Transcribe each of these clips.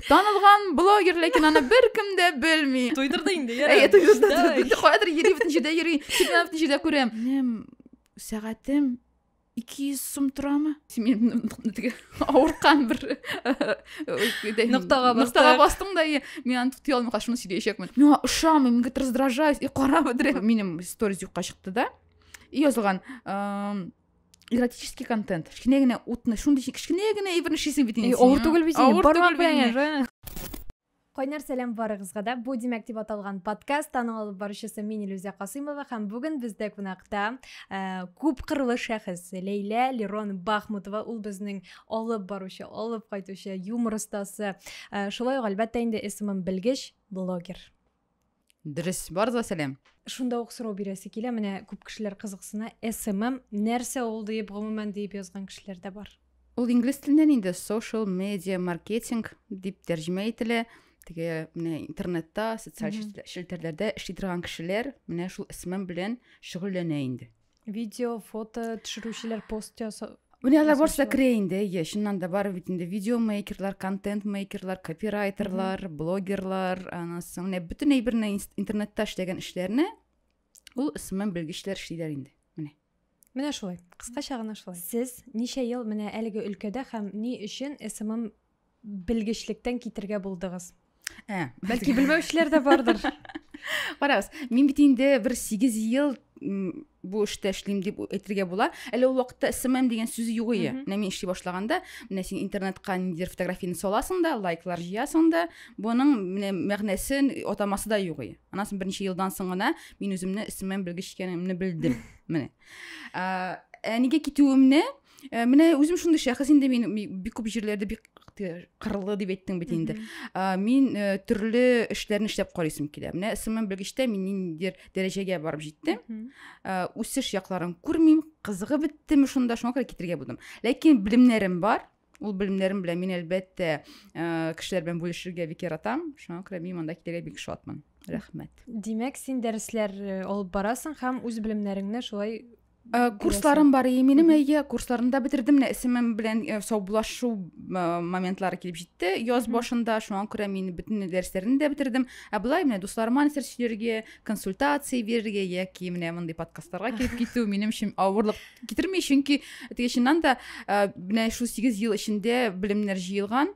Танылган блогер, ләкин аны беркем дә белми. Туйдырды инде, яра. Әйе, туйдырды. Инде каядыр йөри, бөтен җирдә йөри. Тик менә бөтен җирдә күрәм. Минем сәгатем 200 сум торамы? Син теге авыркан бер ноктага ноктага бастың да, мин аны тути алмый кашымны сөйләячәкмен. Миңа ошамый, мин раздражаюсь, и кара бедре. Минем сторис юкка чыкты да. И язылган, эротический контент кішкене генә утны шундый кішкене генә әйберне эшлисең бит инде авыр түгел бит инде бармак белән Кайнар сәлам барыгызга да. Бу димәк дип аталган подкаст аның алып баручысы мин Илүзә Касыймова һәм бүген бездә кунакта ә, күп кырлы шәхес Ләйлә Лерон Бахмутова. Ул безнең алып баручы, алып кайтучы юмор остасы. Ә, шулай ук әлбәттә инде исемем белгеч блогер. Дөрес, барыз да сәлам. Шунда ук сорау бирәсе килә, менә күп кешеләр кызыксына, SMM нәрсә ул диеп гомумән диеп язган кешеләр дә бар. Ул инглиз теленнән инде social media marketing дип тәрҗемә ителә. Теге менә интернетта, социаль челтәрләрдә эшли торган кешеләр менә шул SMM белән шөгыльләнә инде. видео фото төшерүчеләр пост ясау Менә алар барысы да керә инде, иә, чыннан да бар бит инде видеомейкерлар, контент-мейкерлар, копирайтерлар, блогерлар, анасы, менә бөтен әйберне интернетта эшләгән эшләрне ул ысман белгечләр эшлиләр инде. Менә. Менә шулай. Кыскача гына шулай. Сез ничә ел менә әлеге өлкәдә һәм ни өчен СММ белгечлектән китергә булдыгыз ә бәлки белмәүчеләр дә бардыр карагыз мин бит инде бер сигез ел бу эштә эшлим дип әйтергә була әле ул вакытта смм дигән сүз юк иде менә мин эшли башлаганда менә син интернетка ниндидер фотографияны саласың да лайклар җыясың да буның менә мәгънәсен атамасы да юк иде аннан соң берничә елдан соң гына мин үземне смм белгеч икәнемне белдем менә ә нигә китүемне Э, менә үзем шундый шәхес инде мин бик күп җирләрдә бик кырлы дип әйттең бит инде э, мин э, төрле эшләрне эшләп карыйсым килә менә смм белгечтә мин ниндидер дәрәҗәгә барып җиттем үсеш якларын күрмим кызыгып беттеме шунда шуңа күрә китергә булдым ләкин белемнәрем бар ул белемнәрем белән мин әлбәттә кешеләр белән бүлешергә бик яратам шуңа күрә мин монда килергә бик шатмын рәхмәт димәк син дәресләр алып барасың һәм үз белемнәреңне шулай Э, курсларым бар и минем әйе курсларымны да бетердем менә исемем белән э, саубулашу э, моментлары килеп җитте яз башында шуңа күрә мин бөтен дәресләрне дә бетердем ә болай менә дусларыма нәрсә сөйләргә консультация бирергә яки менә мондый подкастларга килеп китү минем өчен авырлык китерми чөнки теге чыннан да менә шул сигез ел эчендә белемнәр җыелган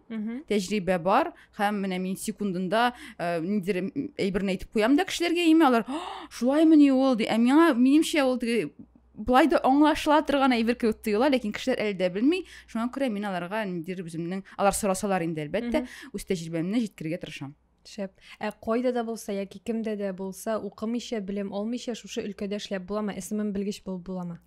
тәҗрибә бар һәм менә мин секундында ә, нидер әйберне әйтеп куям да кешеләргә име алар шулаймыни ул ди ә миңа минемчә ул теге былай да аңлашыла торган әйбер кебек тоела ләкин кешеләр әле дә белми шуңа күрә мин аларга ниндидер үземнең алар сорасалар инде әлбәттә үз тәҗрибәмне җиткерергә тырышам шәп ә кайда да булса яки кемдә дә булса укымыйча белем алмыйча шушы өлкәдә эшләп буламы смм белгеч булып буламы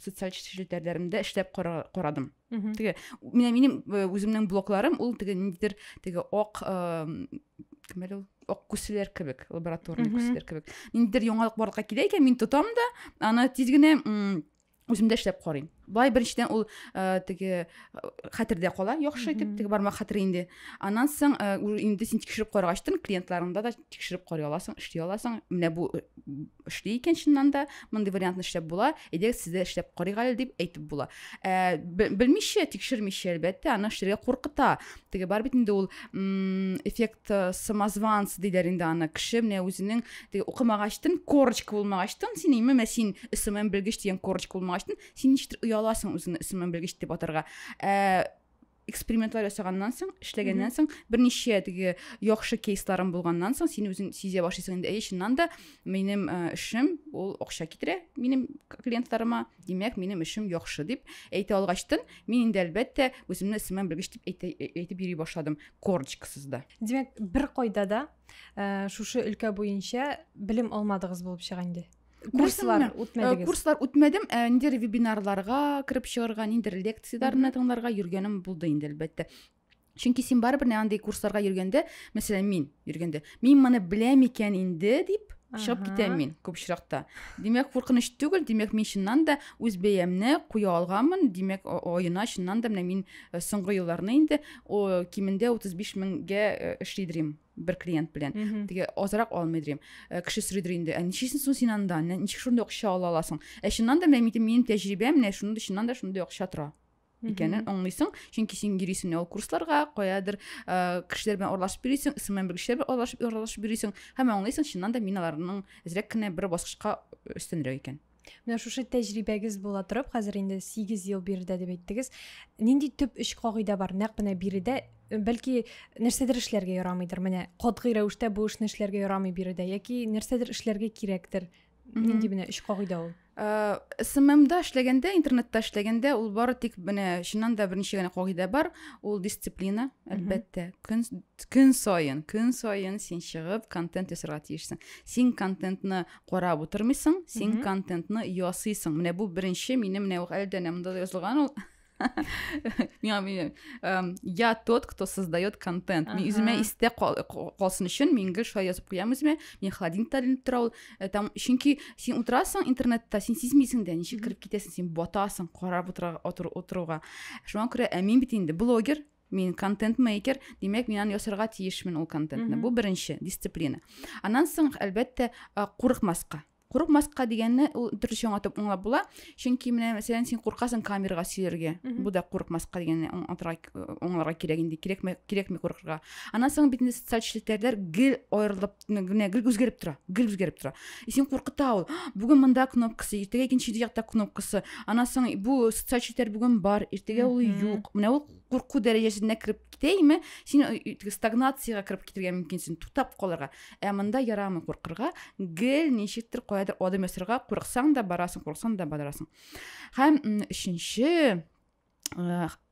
социаль челтәрләремдә эшләп карадым теге менә минем э, үземнең блокларым ул теге ниндидер теге ак кем әле ул ак күселәр кебек лабораторный күселәр кебек ниндидер яңалык барлыкка килә икән мин тотам да аны тиз генә үземдә эшләп карыйм былай беренчедән ул ә, теге э, хәтердә кала яхшы итеп теге бармак хәтере инде аннан соң ә, э, инде син тикшереп карагач клиентларыңда да тикшереп карый аласың эшли аласың менә бу эшли икән чыннан да мондый вариантны эшләп була әйдәгез сез дә эшләп карыйк әле дип әйтеп була ә, белмичә тикшермичә әлбәттә аны эшләргә куркыта теге бар бит инде ул эффект э, самозванц диләр инде аны кеше менә үзенең теге укымагачтын корочка булмагачтын син име менә син смм белгеч дигән корочка булмагачтын син ничектер ояласың үзеңне смм белгеч дип атарга ә, экспериментлар ясаганнан соң эшләгәннән соң берничә теге яхшы кейсларың булганнан соң син үзең сизә башлыйсың инде әй чыннан да минем э, эшем ул акча китерә минем клиентларыма димәк минем эшем яхшы дип әйтә алгачтын мин инде әлбәттә үземне сыман белгеч дип әйтә, э, әйтеп йөри башладым корочкасыз да димәк бер кайда да ә, шушы өлкә буенча белем алмадыгыз булып чыга инде курслар э, үтмәдегез курслар үтмәдем ә э, ниндидер вебинарларга кереп чыгарга ниндидер лекцияләрне тыңларга йөргәнем булды инде әлбәттә чөнки син барыбер андый курсларга йөргәндә мәсәлән мин йөргәндә мин моны беләм икән инде дип чыгып китәм мин күп очракта димәк куркыныч түгел димәк мин чыннан да үз бәямне куя алганмын димәк оена чыннан да менә мин э, соңгы елларны инде кимендә 35 меңгә эшлидерим бер клиент белән теге азрак алмый дим э, кеше сорыйдыр инде ә ничесен соң син анда ничек шундый акча ала аласың ә чыннан да менә минем тәҗрибәм менә шундый чыннан да шундый акча тора икәнен аңлыйсың чөнки син йөрисең ул курсларга каядыр ә, кешеләр белән аралашып йөрисең исемен бер кешеләр белән аралашып аралашып йөрисең һәм аңлыйсың чыннан да мин аларның әзрәк кенә бер баскычка өстенрәк икән Менә шушы тәҗрибәгез була торып, хәзер инде 8 ел биредә дип әйттегез. Нинди төп өч кагыйдә бар? Нәкъ менә биредә э, бәлки нәрсәдер эшләргә ярамыйдыр. Менә катгый рәвештә бу эшне эшләргә ярамый биредә яки нәрсәдер эшләргә кирәктер. Нинди менә өч кагыйдә ул? Э, СММда эшләгәндә, интернетта эшләгәндә ул бары тик менә чыннан да беренче генә кагыйдә бар, ул дисциплина, әлбәттә. Көн көн саен, көн саен син чыгып контент ясарга тиешсең. Син контентны карап утырмыйсың син контентны ясыйсың менә бу беренче минем менә әле дә монда да язылган ул эм, я тот кто создает контент мин үземә истә калсын өчен мин гел шулай язып куям үземә мин холодильникта ленеп тора ул э, там чөнки син утырасың интернетта син сизмисең дә ничек кереп китәсең син батасың карап отыруга шуңа күрә ә мин бит инде блогер мин контент мейкер димәк мин аны ясарга тиешмен ул контентны бу беренче дисциплина аннан соң әлбәттә курыкмаска курыкмаска дигәнне ул төрлечә аңлатып аңлап була чөнки менә мәсәлән син куркасың камерага сөйләргә бу да курыкмаска дигәнне аңлатырга аңларга кирәк инде кирәкме кирәкми куркырга аннан соң бит инде социаль челтәрләр гел аерылып генә гел үзгәреп тора гел үзгәреп тора и син куркыта ул бүген мында кнопкасы иртәгә икенче якта кнопкасы анан соң бу социаль челтәр бүген бар иртәгә ул юк менә ул курку дәрәҗәсенә кереп китә име син стагнацияга кереп китергә мөмкинсең туктап калырга ә мында ярамый куркырга гел ничектер каядыр адым ясарга курыксаң да барасың курыксаң да барасың һәм өченче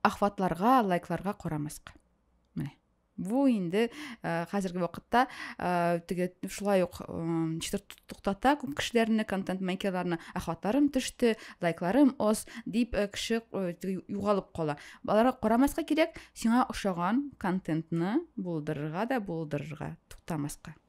охватларга лайкларга карамаска менә бу инде э, хәзерге вакытта э, теге шулай ук ничектер туктата күп кешеләрне контент мейкерларны ахватларым төште лайкларым оз дип э, кеше югалып кала аларга карамаска кирәк сиңа ошаган контентны булдырырга да булдырырга туктамаска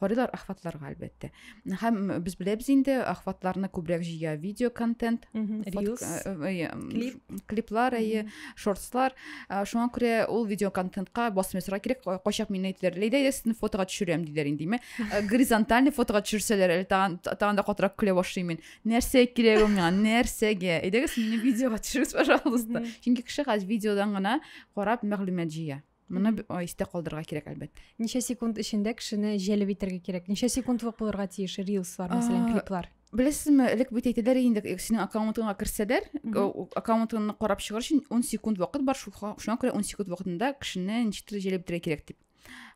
Карыйлар ахватларга әлбәттә. Һәм без беләбез инде ахватларны күбрәк җыя видео контент, reels, клип, клиплар, әйе, шортслар. Шуңа күрә ул видео контентка басым ясарга кирәк. Кайчак мин әйтәләр, "Ләйдә, әйдә сезне фотога төшерәм" диләр инде, ме? Горизонтальный фотога төшерсәләр, әле тагын тагын да катырак көлә башлыйм мин. Нәрсә кирәк ул миңа? Нәрсәгә? Әйдәгез мине видеога төшерегез, пожалуйста. Чөнки кеше хәзер видеодан гына карап мәгълүмат җыя. Моны истә калдырырга кирәк, әлбәттә. Ничә секунд эчендә кешене җәлеп итәргә кирәк? Ничә секундлык булырга тиеш рилслар, мәсәлән, клиплар? Беләсезме, элек бит әйтәләр инде, синең аккаунтыңа керсәләр, аккаунтыңны карап чыгар өчен 10 секунд вакыт бар, шуңа күрә 10 секунд вакытында кешене ничектер җәлеп итәргә кирәк дип.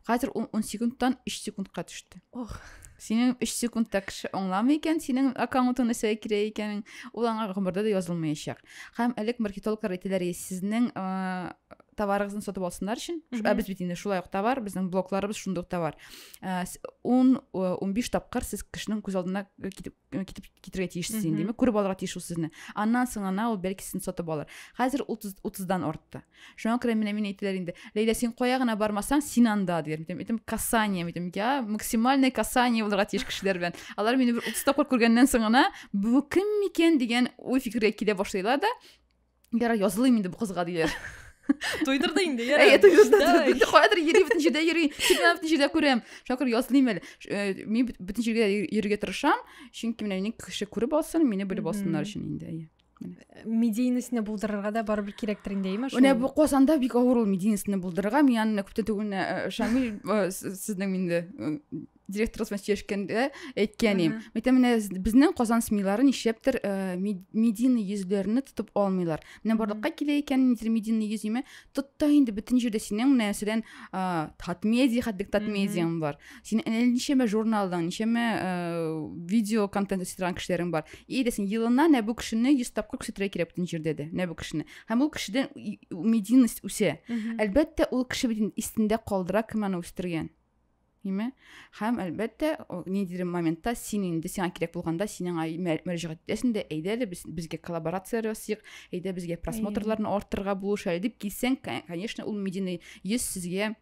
Хәзер 10 секундтан 3 секундка төште. Ох. Синең 3 секундта кеше аңламый икән, синең аккаунтың нәрсәгә кирәк икәнен, ул аңа гомердә дә язылмаячак. Һәм элек маркетологлар әйтәләр, сезнең товарыгызны сатып алсыннар өчен ә без бит инде шулай ук товар безнең блокларыбыз шундый ук товар э, ун э, унбиш тапкыр сез кешенең күз алдына э, китеп китеп китерергә тиешсез инде демәк күреп алырга тиеш ул сезне аннан соң гына ул бәлки сезне сатып алыр хәзер утыз утыздан артты шуңа күрә менә мин әйтәләр инде ләйлә син кая гына бармасаң син анда диләр мен әйтәм касание мен әйтәм я максимальное касание булырга тиеш кешеләр белән алар мине бер утыз тапкыр күргәннән соң гына бу кем микән дигән уй фикергә килә башлыйлар да Ярар, язылыйм инде бу кызга диләр. Туйдырды инде, я. Әй, туйдырды, туйдырды. Каядыр йөри, бөтен җирдә йөри. Тик мен бөтен җирдә күрәм. Шакыр язлыйм әле. Э, мин бөтен җиргә йөрергә тырышам, чөнки менә мине кеше күреп алсын, мине белеп алсыннар өчен инде. Э, медийнесне булдырырга да барыбер кирәктер инде, әйме? Менә бу Казанда бик авыр ул медийнесне булдырырга. Мин аны күптән түгел э, Шамил сезнең инде директор кызына сөйләшкәндә әйткән идем мәктәп менә безнең казан смилары нишләптер ә, медийный йөзләрне тотып алмыйлар менә барлыкка килә икән ниндидер медийный йөз име тот та инде бөтен җирдә синең менә мәсәлән татмедиа хәтлек татмедиаң бар синең әле ничәмә журналың ничәмә видео контент эшли торган кешеләрең бар и дә син елына нә бу кешене йөз тапкыр күрсәтергә кирәк бөтен җирдә дә нә бу кешене һәм ул кешедән медийность үсә әлбәттә ул кеше бит истендә калдыра кем аны үстергән Ниме? Һәм әлбәттә, ниндидер моментта син инде сиңа кирәк булганда синең мөрәҗәгать итәсең дә, әйдә әле без безгә коллаборация ясыйк, әйдә безгә просмотрларны артырга булыш әле дип килсәң, конечно, ул медийный йөз сезгә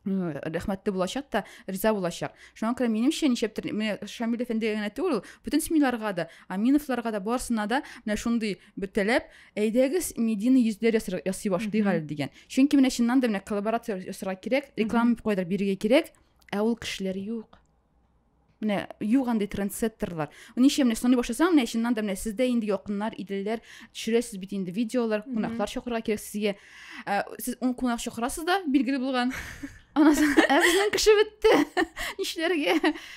рәхмәтле булачак та риза булачак шуңа күрә минемчә ничәптер менә шамил әфәндегә генә түгел бөтен семьяларга да аминовларга да барысына да менә шундый бөтәләп әйдәгез медийный йөзләр ясый башлыйк әле дигән чөнки менә чыннан да менә коллаборация ясарга кирәк реклама кайдыр бирергә кирәк ә ул кешеләр юк менә юк андый трендсеттерлар ничә менә соны башласаң менә чыннан да менә сездә инде якыннар иделәр төшерәсез бит инде видеолар кунаклар чакырырга кирәк сезгә Ә, сез ун кунак чакырасыз да, билгеле булган. Аннан соң, ә безнең кеше бетте. Нишләргә?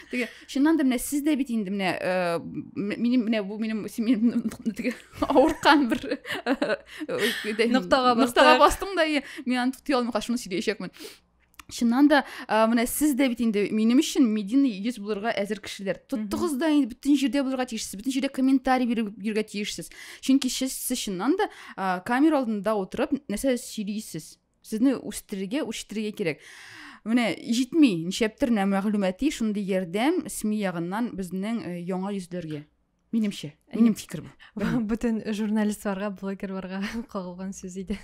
Теге, чыннан да менә сез дә бит инде менә э, минем менә бу минем минем теге авырткан бер ноктага бастың да, мин аны тоти алмый, шуны сөйләячәкмен. чыннан да ә, менә сез дә бит инде минем өчен медийный йөз булырга әзер кешеләр тоттыгыз да инде бөтен җирдә булырга тиешсез бөтен җирдә комментарий биреп йөрергә тиешсез чөнки сез сез чыннан да ә, камера алдында утырып нәрсә сөйлисез сезне үстерергә үчтерергә кирәк менә җитми ничәптер мәгълүмати шундый ярдәм сми ягыннан безнең яңа йөзләргә минемчә минем фикер бу бөтен журналистларга блогерларга кагылган сүз иде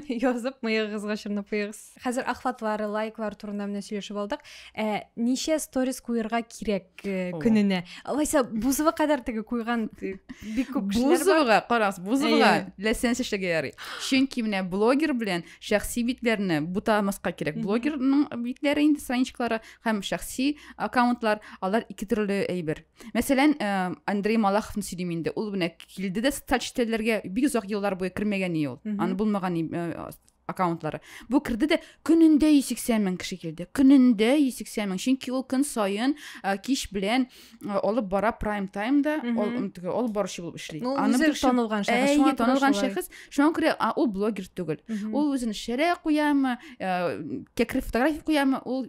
язып мыегыгызга чорнап куегыз хәзер охватлар лайклар турында менә сөйләшеп алдык ә ничә сторис куерга кирәк э, көненә алайса бузова кадәр теге куйган э, бик күп кешеләр бузовага карагыз бузовага ләсәнс эшләргә ярый чөнки менә блогер белән шәхси битләрне бутамаска кирәк блогерның битләре инде страничкалары һәм шәхси аккаунтлар алар ике төрле әйбер мәсәлән ә, андрей малаховны сөйлим инде ул менә килде дә социаль челтәрләргә бик озак еллар буе кермәгән ие ул аны булмаган ә, аккаунтлары бу керде дә көнендә 180 мең кеше килде көнендә 180 мең чөнки ул көн саен ә, кич белән ә, алып бара прайм таймда ол баручы булып эшли ну, аны бер танылган шәхес шуңа танылган шәхес шуңа күрә ул блогер түгел ул үзен шәрә куямы ә, кәкре фотография куямы ул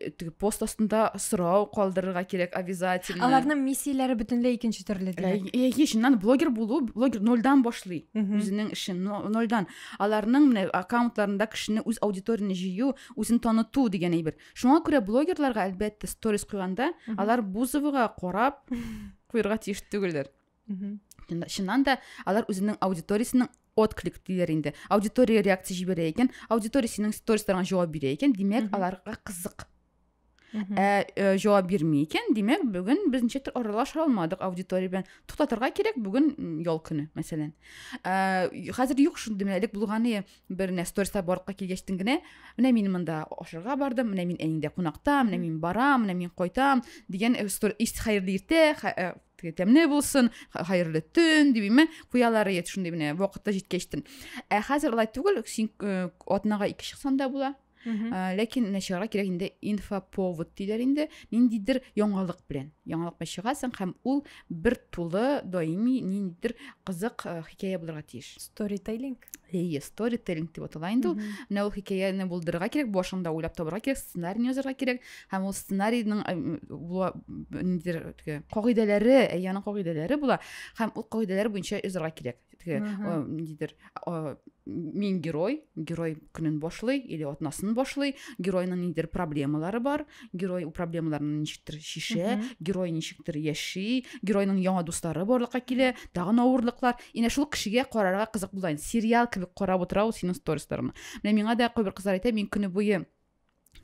Э, теге пост астында сорау калдырырга кирәк обязательно аларның миссияләре бөтенләй икенче төрле әйе чыннан блогер булу блогер нольдан башлый үзенең эшен нольдан аларның менә аккаунтларында кешене үз аудиторияне җыю үзен таныту дигән әйбер шуңа күрә блогерларга әлбәттә сторис куйганда алар бузовага карап куярга тиеш түгелдер чыннан да алар үзенең аудиториясенең отклик диләр инде аудитория реакция җибәрә икән аудитория синең стористарыңа җавап бирә икән димәк аларга кызык ә, ә җавап бирми икән димәк бүген без ничектер аралаша алмадык аудитория белән туктатырга кирәк бүген ял көне мәсәлән ә, хәзер юк шундый менә элек булганы бер менә сториста барлыкка килгәчтен генә менә мин монда ашарга бардым менә мин әниңдә кунакта менә мин барам менә мин кайтам дигән э, хәерле иртә теге тәмле булсын хәерле төн дибеме куялар иде шундый менә вакыты җиткәчтен ә хәзер алай түгел син э, атнага ике чыксаң да була ә, ләкин менә чыгарга кирәк инде инфоповод диләр инде ниндидер яңалык белән яңалык белән чыгасың һәм ул бер тулы даими ниндидер кызык э, хикәя булырга тиеш сторителлинг эйе сторителлинг дип атала инде ул менә ул хикәяне булдырырга кирәк башыңда уйлап табарга кирәк сценарийны язарга кирәк һәм ул сценарийның ниндидер теге кагыйдәләре әйяның кагыйдәләре була һәм ул кагыйдәләр буенча язарга кирәк теге ниндидер мин герой герой көнен башлый или атнасын башлый геройның ниндидер проблемалары бар герой ул проблемаларны ничектер шишә герой ничектер яши геройның яңа дуслары барлыкка килә тагын авырлыклар инә шул кешегә карарга кызык була сериал кебек карап утыра ул синең сторисларыңны менә миңа да кайбер кызлар әйтә мин көне буе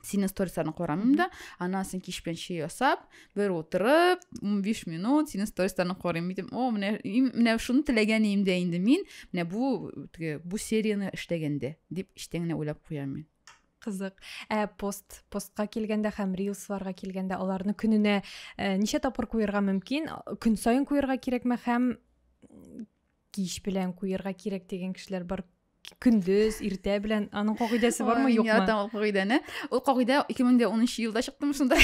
сине стористарын карамыйм да анан сен кич белән чәй ясап бер утырып ун биш минут сине стористарын карыйм мин о менә менә шуны теләгән идем дә инде мин менә бу теге бу серияны эшләгәндә дип эчтән генә уйлап куям мин кызык ә пост постка килгәндә һәм рилсларга килгәндә аларны көненә ә, ничә тапкыр куярга мөмкин көн саен куярга кирәкме һәм кич белән куярга кирәк дигән кешеләр бар көндез иртә белән аның кагыйдәсе бармы юкмы мин яратам ул кагыйдәне ул кагыйдә ике мең дә унынчы елда чыктым шунда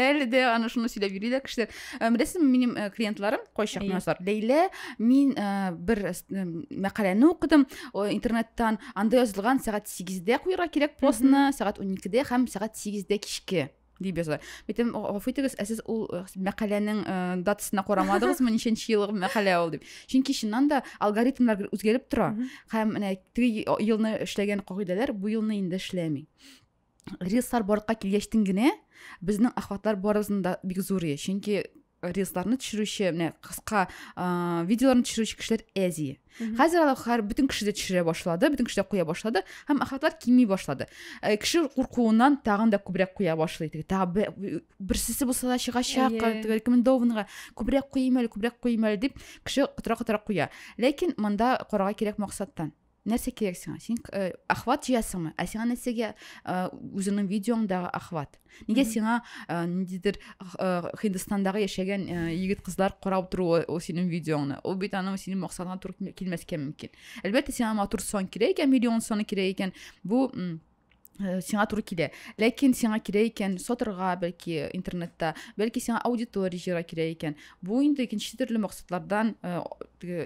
әле дә аны шуны сөйләп йөриләр кешеләр э, беләсезме минем э, клиентларым кайчак язар ләйлә мин э, бер мәкаләне укыдым интернеттан анда язылган сәгать сигездә куярга кирәк постны сәгать уникедә һәм сәгать сигездә кичке дип яза. Бит һәм гафу итегез, ә сез ул э, мәкаләнең э, датасына карамадыгызмы, ничәнче елгы мәкалә ул дип. Чөнки чыннан да алгоритмнар үзгәреп тора. Һәм менә теге елны эшләгән кагыйдәләр бу елны инде эшләми. Рилслар барлыкка килгәчтен генә безнең охватлар барыбызның да бик зурый. Чөнки рилсларны төшерүче менә кыска видеоларны төшерүче кешеләр әзи хәзер алар һәр бөтен кеше дә төшерә башлады бөтен кеше дә куя башлады һәм охватлар кими башлады э, кеше куркуыннан тагын да күбрәк куя башлый теге тагы берсесе булса да чыгачак рекомендованныйга күбрәк куйыйм әле күбрәк куйыйм әле дип кеше котыра котыра куя ләкин монда карарга кирәк максаттан нәрсә кирәк сиңа син э, охват җыясыңмы ә сиңа нәрсәгә э, үзеңнең видеоңдагы охват нигә сиңа э, ниндидер һиндстандагы яшәгән егет кызлар карап торуы ул синең видеоңны ул бит аның синең максатыңа туры килмәскә мөмкин әлбәттә сиңа матур сон кирәк икән миллион соны кирәк икән бу Э, сиңа туры килә ләкин сиңа кирәк икән сатырга бәлки интернетта бәлки сиңа аудитория җыярга кирәк икән бу инде икенче төрле максатлардан э,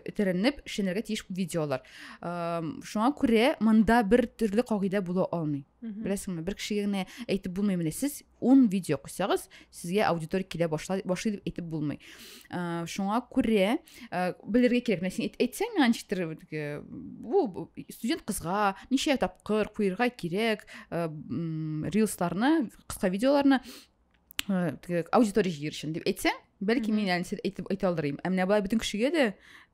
этәренеп эшләнергә тиеш видеолар шуңа күрә монда бер төрле кагыйдә була алмый беләсеңме бер кешегә генә әйтеп булмый менә сез ун видео куйсагыз сезгә аудитория килә башлай башлый дип әйтеп булмый ә, шуңа күрә ә, белергә кирәк менә син әйт, әйтсәң миңа ничектер бу студент кызга ничә тапкыр куерга кирәк ә, рилсларны кыска видеоларны ә, аудитория җыер өчен дип әйтсәң бәлки мин әле сез әйтеп әйтә алыр идем ә менә былай бөтен кешегә дә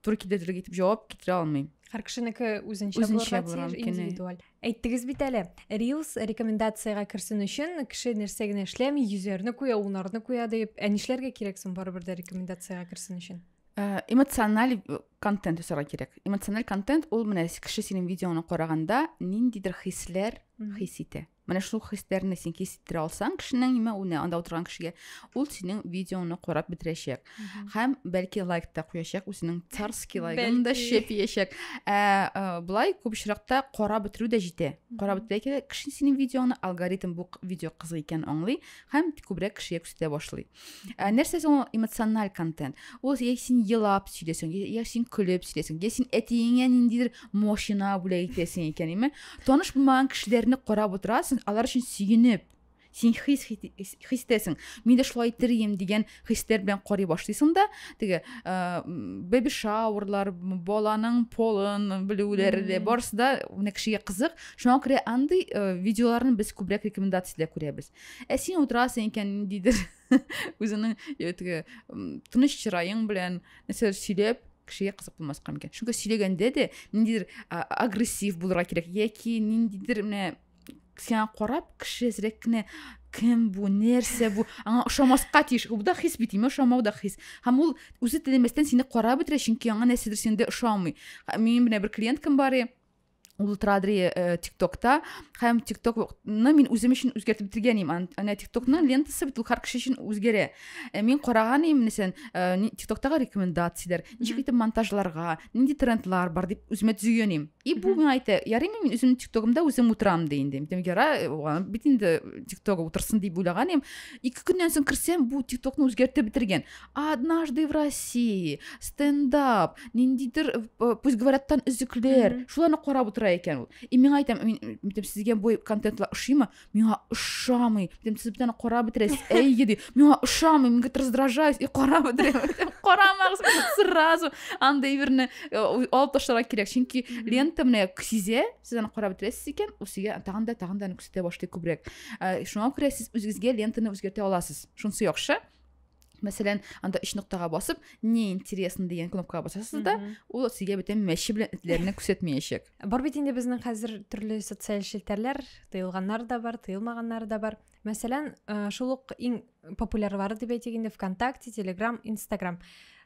туры килерлек итеп җавап китерә алмыйм һәр кешенеке үзенчә үзенчә булырга тиеш индивидуаль Әйттегез бит әле, Reels рекомендациягә керсен өчен кеше нәрсә генә эшләми, йөзәрне куя, унарны куя дип. Ә нишләргә кирәк соң барыбер дә рекомендациягә керсен өчен? Э, эмоциональ э, контент өсәргә кирәк. Эмоциональ контент ул менә кеше синең видеоны караганда ниндидер хисләр хис итә. Менә шул хисләрне син хис иттерә алсаң кешенең имә үне анда утырган кешегә, ул синең видеоны карап бетерәчәк. һәм бәлки лайк та куячак үзенең царский лайгын да шәп иячәк ә, ә былай күп очракта карап бетерү дә җитә карап бетерә кеше синең видеоны алгоритм бу видео кызык икән аңлый һәм күбрәк кешегә күрсәтә башлый ә, нәрсә соң эмоциональ контент ул я син елап сөйләсең я син көлеп сөйләсең я син әтиеңә ниндидер машина бүләк итәсең икән әйме таныш булмаган кешеләрне карап утырасың алар өчен сөенеп син хис хис итәсең мин дә шулай итәрем дигән хисләр белән карый башлыйсың да теге беби шаурлар баланың полын белүләре дә барысы да менә кешегә кызык шуңа күрә андый видеоларны без күбрәк рекомендацияда күрәбез ә син утырасың икән ниндидер үзеңнең теге тыныч чыраең белән нәрсәдер сөйләп кешегә кызык булмаска мөмкин чөнки сөйләгәндә дә ниндидер агрессив булырга кирәк яки ниндидер менә сиңа карап кеше әзрәк кенә кем бу нәрсә бу аңа ошамаска тиеш бу да хис бит ошамау да хис һәм ул үзе теләмәстән сине карап бетерә чөнки аңа нәрсәдер синдә ошамый минем менә бер клиенткам бар ул традри э, тиктокта һәм тиктокны мин үзем өчен үзгәртеп бетергән идем әнә тиктокның лентасы бит ул һәр кеше өчен үзгәрә э, мин караган идем мәсәлән э, тиктоктагы рекомендацияләр ничек итеп монтажларга нинди трендлар бар дип үземә төзегән идем И бу миңа әйтә, ярыймы мин үземнең тиктогымда үзем утырам ди инде. Дим, яра, аны бит инде тиктогы утырсын дип уйлаган идем. Ике көннән соң керсәм, бу тиктокны үзгәртеп бетергән. Однажды в России, стендап, ниндидер э, пусть говорят там өзекләр, шуларны карап утыра икән ул. И миңа әйтәм, мин әйтәм, сезгә бу контентлар ошыймы? миңа ошамый дим сез бүтәне карап бетерәсез әйе ди миңа ошамый мин говорит раздражаюсь и карап бетерәм карамагыз сразу андай берне э, алып ташларга кирәк чөнки лента менә сизә сез аны карап бетерәсез икән ул сезгә тагын да тагын да күрсәтә башлый күбрәк э, шуңа күрә сез үзегезгә лентаны үзгәртә аласыз шунысы яхшы мәсәлән анда өч ноктага басып не интересно дигән кнопкага басасыз да ул сезгә бөтен мәче белән этләрне күрсәтмәячәк бар бит инде безнең хәзер төрле социаль челтәрләр тыелганнар да бар тыелмаганнары да бар мәсәлән э, шул ук иң популярлары дип әйтик инде вконтакте телеграм инстаграм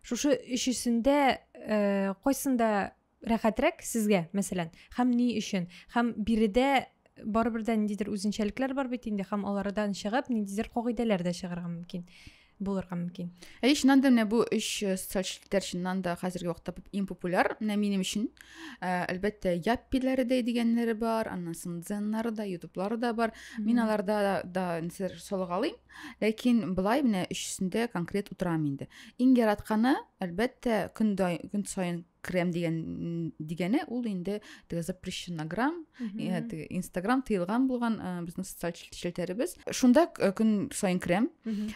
шушы өчесендә э, кайсында рәхәтрәк сезгә мәсәлән һәм ни өчен һәм биредә барыбер дә ниндидер үзенчәлекләр бар бит инде һәм алардан чыгып ниндидер кагыйдәләр дә чыгарга мөмкин булырга мөмкин әй чыннан да менә бу өч э, социаль челтәр чыннан да хәзерге вакытта иң популяр менә минем өчен э, әлбәттә яппиләре дә дигәннәре бар аннан соң дзеннары да ютублары да бар мин аларда да салгалыйм ләкин былай менә өчесендә конкрет утырам инде иң яратканы әлбәттә көн көн саен крем дигән дигәне ул инде теге запрещено грамм теге инстаграм тыелган булган безнең социаль челтәребез шунда көн сайын крем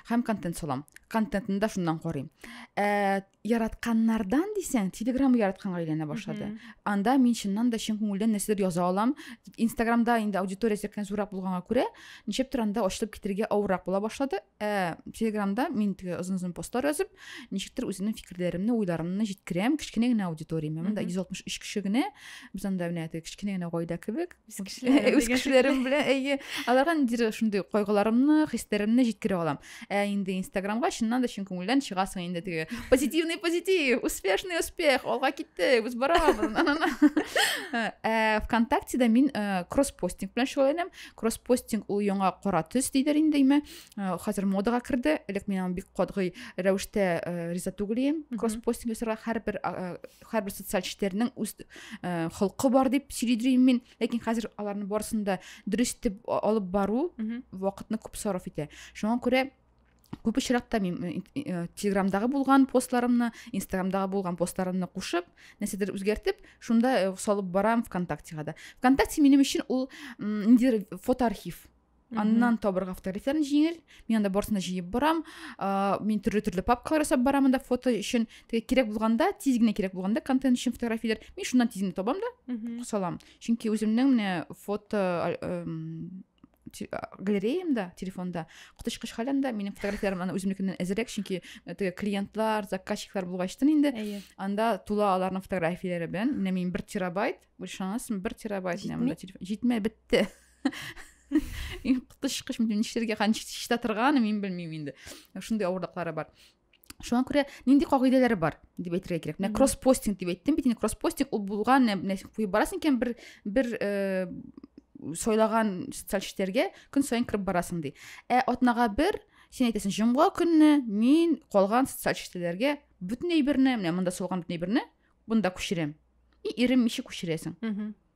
һәм контент салам контентын да шуннан карыйм ә, яратканнардан дисәң телеграм яратканга әйләнә башлады анда мин чыннан да чын күңелдән нәрсәдер яза алам инстаграмда инде аудиториясе кән зуррак булганга күрә ничектер анда ачылып китергә авыррак була башлады ә, телеграмда мин теге озын озын постлар язып ничектер үземнең фикерләремне уйларымны җиткерәм кечкенә генә аудиторияме монда йөз алтмыш өч кеше генә без анда менә теге кечкенә генә гаилә кебек үз кешеләрем белән әйе аларга ниндидер шундый кайгыларымны хисләремне җиткерә алам ә инде инстаграмга чыннан да чын күңелдән чыгасың инде теге позитивный позитив успешный успех алга киттек без барабыз ә вконтактеда мин кросс постинг белән шөгыльләнәм кросспостинг ул яңа кара төс дидер инде име э, хәзер модага керде элек мин аны бик катгый рәвештә э, риза түгел идем кросспостинг ясарга һәрбер э, һәрбер социаль челтәрнең үз холкы бар дип сөйли мин ләкин хәзер аларның барысын да дөрес итеп алып бару вакытны күп сарыф итә шуңа күрә Күп очракта мин э, Телеграмдагы булган постларымны, Инстаграмдагы булган постларымны кушып, нәрсәдер үзгәртеп, шунда э, салып барам ВКонтактега да. ВКонтакте минем өчен ул ниндидер фотоархив. Аннан табырга фотографияләрне җиңел. Мин анда барсын да җыеп барам. Мин төрле-төрле папкалар ясап барам анда фото өчен. Теге кирәк булганда, тиз генә кирәк булганда контент өчен фотографияләр. Мин шуннан тиз генә табам да салам. Чөнки үземнең менә фото э, галереямда телефонда коточкыч хәл анда минем фотографияләрем аны үземнекеннән әзерәк чөнки э, теге клиентлар заказчиклар булгачтын инде әйе анда тула аларның фотографияләре белән менә мин бер терабайт ышанасың бер терабайт җитмә бетте коточкыч нишләргә чиста торганы мин белмим инде шундый авырлыклары бар шуңа күрә нинди кагыйдәләр бар дип әйтергә кирәк менә кросс постинг дип әйттем бит инде кросс постинг ул булган менә куеп барасың икән бер бер э, сайлаган социаль челтәргә көн саен кереп барасың ди ә атнага бер сен әйтәсең җомга көнне мин калган социаль челтәләргә бөтен әйберне менә монда салган бөтен әйберне монда күчерәм и ирем ничек күчерәсең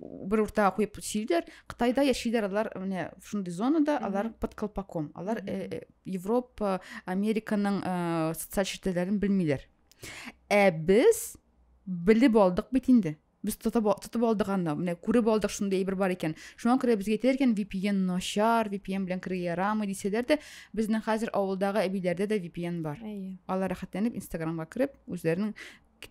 бер уртага куеп сөйлиләр кытайда яшиләр алар менә шундый зонада алар под колпаком алар э, э, европа американың э, социаль челтәрләрен белмиләр ә без белеп алдык бит инде без тотып тотып алдык аны менә күреп алдык шундый әйбер бар икән шуңа күрә безгә әйтәләр икән vpn начар vpn белән керергә ярамый дисәләр дә безнең хәзер авылдагы әбиләрдә дә vpn бар алар рәхәтләнеп инстаграмга кереп үзләренең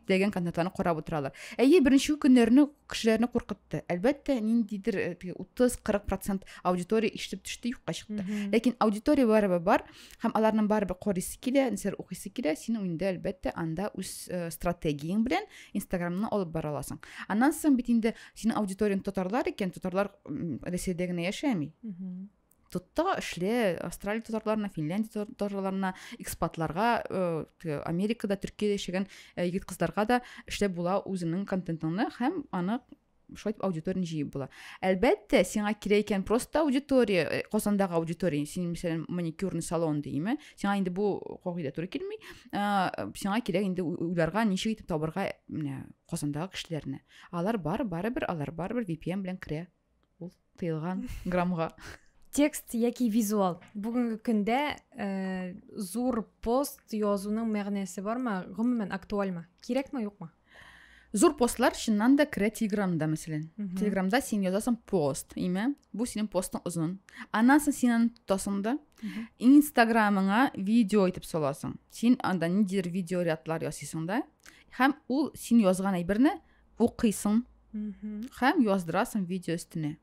теләгән контентларны карап утыралар әйе беренче көннәрне кешеләрне куркытты әлбәттә ниндидер э, утыз кырык процент аудитория ишетеп төште юкка чыкты ләкин аудитория барыбер бар һәм аларның барыбер карыйсы килә нәрсәләр укыйсы килә син инде әлбәттә анда үз э, стратегияң белән инстаграмны алып бара аласың аннан соң бит инде синең аудиторияңды татарлар икән татарлар рәсәйдә генә яшәми тотта эшле австралия татарларына финляндия татарларына экспатларга э, америкада төркияда яшәгән э, егет кызларга да эшләп була үзеңнең контентыңны һәм аны шулай итеп аудиторияны җыеп була әлбәттә сиңа кирәк икән просто аудитория э, казандагы аудитория син мәсәлән маникюрный салон димме сиңа инде бу кагыйдә туры килми сиңа кирәк инде уйларга ничек итеп табарга менә казандагы кешеләрне алар бар барыбер алар барыбер vpn белән керә ул тыелган граммга текст яки визуал бүгенге көндә ә, зур пост язуның мәгънәсе бармы гомумән актуальмы кирәкме юкмы зур постлар чыннан да керә телеграмда мәсәлән телеграмда син язасың пост имя бу синең постың озын аннан соң син аны тотасың да инстаграмыңа видео итеп саласың син анда ниндидер видеорядлар ясыйсың да һәм ул син язган әйберне укыйсың һәм яздырасың видео өстенә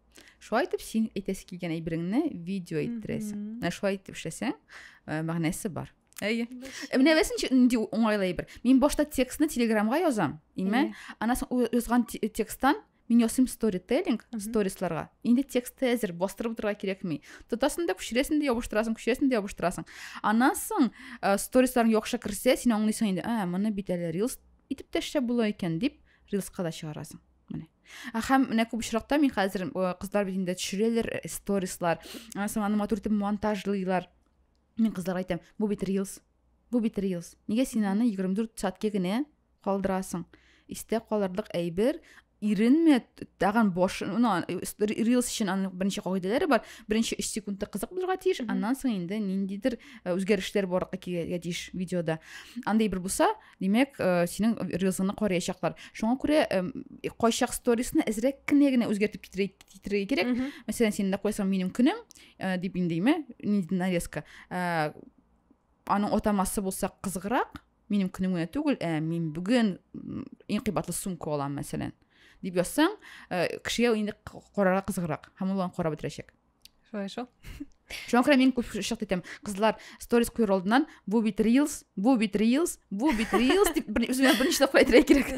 шулай итеп син әйтәсе килгән әйбереңне видео иттерәсең менә шулай итеп эшләсәң э, мәгънәсе бар әйе э, менә беләсеңче нинди уңайлы әйбер мин башта текстны телеграмга язам име аннан соң язган тексттан мин ясыйм сторителлинг сторисларга инде тексты әзер бастырып утырырга кирәкми тотасың да күчерәсең дә ябыштырасың күчерәсең дә ябыштырасың аннан соң э, сторисларың яхшы керсә син аңлыйсың инде ә моны бит әле рилс итеп тә эшләп була икән дип рилска да чыгарасың менә ә һәм менә күп очракта мин хәзер кызлар бит инде төшерәләр э, сторислар соң аны матур итеп монтажлыйлар мин кызларга әйтәм бу бит рилс бу бит рилс нигә син аны егерме дүрт сәтке генә калдырасың истә калырлык әйбер иренмә тагын башын ну рилс өчен аның берничә кагыйдәләре бар беренче өч секундта кызык булырга тиеш аннан соң инде ниндидер үзгәрешләр барырга килергә тиеш видеода андай бер булса димәк синең рилсыңны караячаклар шуңа күрә кайчак сторисны әзрәк кенә генә үзгәртеп китерергә кирәк мәсәлән син дә куясың минем көнем дип инде нинди нарезка аның атамасы булса кызыграк минем көнем генә түгел ә мин бүген иң кыйбатлы сумка алам мәсәлән дип язсаң э, кешегә инде карарга кызыграк һәм ул аны карап бетерәчәк шулай шул шуңа күрә мин күп шык итәм кызлар сторис куер алдыннан бу бит рилс бу бит рилс бу бит рилс дип үземә берничә тапкыр әйтергә кирәк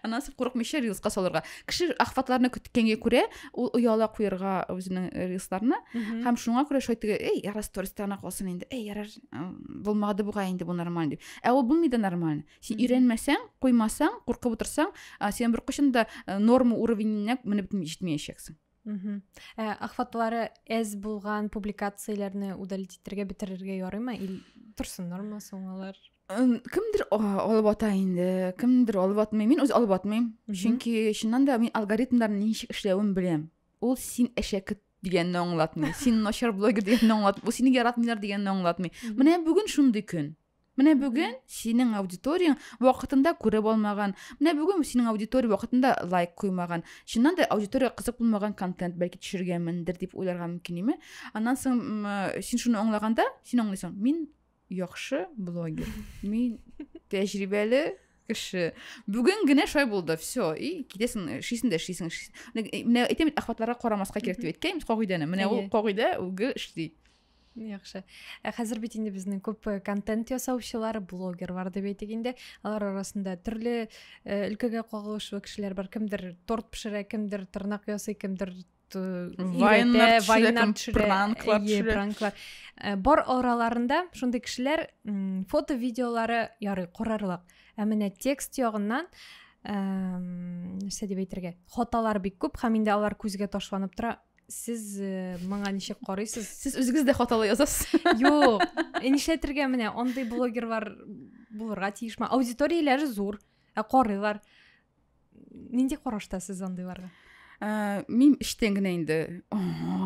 аннан соң курыкмыйча рилска салырга кеше ахватларны көткәнгә күрә ул ояла куерга үзенең рилсларны һәм шуңа күрә шулай теге эй ярар стористарына калсын инде эй ярар булмады бугай инде бу нормаль дип ә ул булмый да нормально син өйрәнмәсәң куймасаң куркып утырсаң сен беркайчан да э, норма уровененә менеп җитмәячәксең ә ахватлары әз булган публикацияләрне удалить итәргә бетерергә ярыймы или торсын норма соң алар кемдер алып ата инде кемдер алып атмый мин үзе алып атмыйм чөнки чыннан да мин алгоритмнарның ничек эшләвен беләм ул син әшәке дигәнне аңлатмый син начар блогер дигәнне аңлатмый бу сине яратмыйлар дигәнне аңлатмый менә бүген шундый көн менә бүген синең аудиторияң вакытында күреп алмаган менә бүген синең аудитория вакытында лайк куймаган чыннан да аудитория кызык булмаган контент бәлки төшергәнмендер дип уйларга мөмкин име аннан соң син шуны аңлаганда син аңлыйсың мин яхшы блогер мин тәҗрибәле кеше бүген генә шулай булды все и китәсең э, эшлисең дә эшлисең э, менә әйтәм бит әхватларга карамаска кирәк дип әйткән кагыйдәне менә ул кагыйдә үги эшли яхшы ә хәзер бит инде безнең күп э, контент ясаучылар блогер бар дип әйтик инде алар арасында төрле өлкәгә кагылышлы кешеләр бар кемдер торт пешерә кемдер тырнак ясый кемдер вайннар пранклар э, бар араларында шундый кешеләр фото видеолары ярый карарлык ә менә текст ягыннан нәрсә дип әйтергә хаталар бик күп һәм инде алар күзгә ташланып тора сез э, моңа ничек карыйсыз сез үзегез дә хаталы язасыз юк нишләтергә менә андый блогерлар булырга тиешме аудиторияләре зур ә карыйлар нинди карашта сез андыйларга ә, мин эчтән генә инде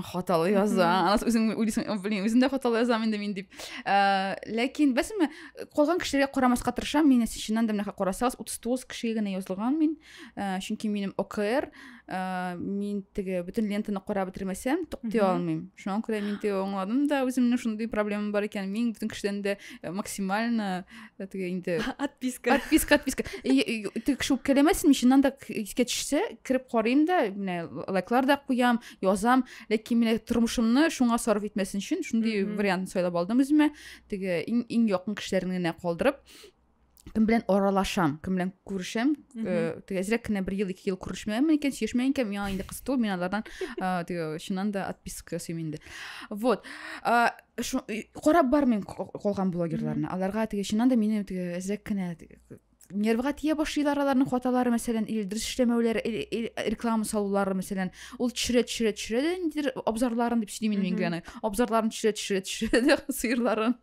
хаталы яза анасы үзең уйлыйсың блин үзем дә хаталы язам инде мин дип ә, ләкин беләсеңме калган кешеләргә карамаска тырышам мин чыннан да менә карасагыз утыз тугыз кешегә генә язылган мин ә, чөнки минем окр ә, мин теге бөтен лентаны карап бетермәсәм туктый алмыйм шуңа күрә мин теге аңладым да үземнең шундый проблемам бар икән мин бөтен кешедән дә максимально теге инде отписка отписка отписка теге кеше үпкәләмәсенме чыннан да искә төшсә кереп карыйм да менә лайклар да куям язам ләкин менә тормышымны шуңа сарыф итмәсен өчен шундый вариант сайлап алдым үземә теге иң иң якын кешеләрне генә калдырып кем белән аралашам кем белән күрешәм теге әзрәк кенә бер ел ике ел күрешмәгәнмен икән сөйләшмәгән икән миңа инде кызык түгел мин алардан теге чыннан да отписка ясыйм инде вот карап бармыйм калган блогерларны аларга теге чыннан да минем теге әзрәк кенә нервга тия башлыйлар аларның хаталары мәсәлән или дөрес эшләмәүләре или реклама салулары мәсәлән ул төшерә төшерә төшерә дә ниндидер абзарларын дип сөйлим мин генә абзарларын төшерә төшерә төшерә дә сыерларын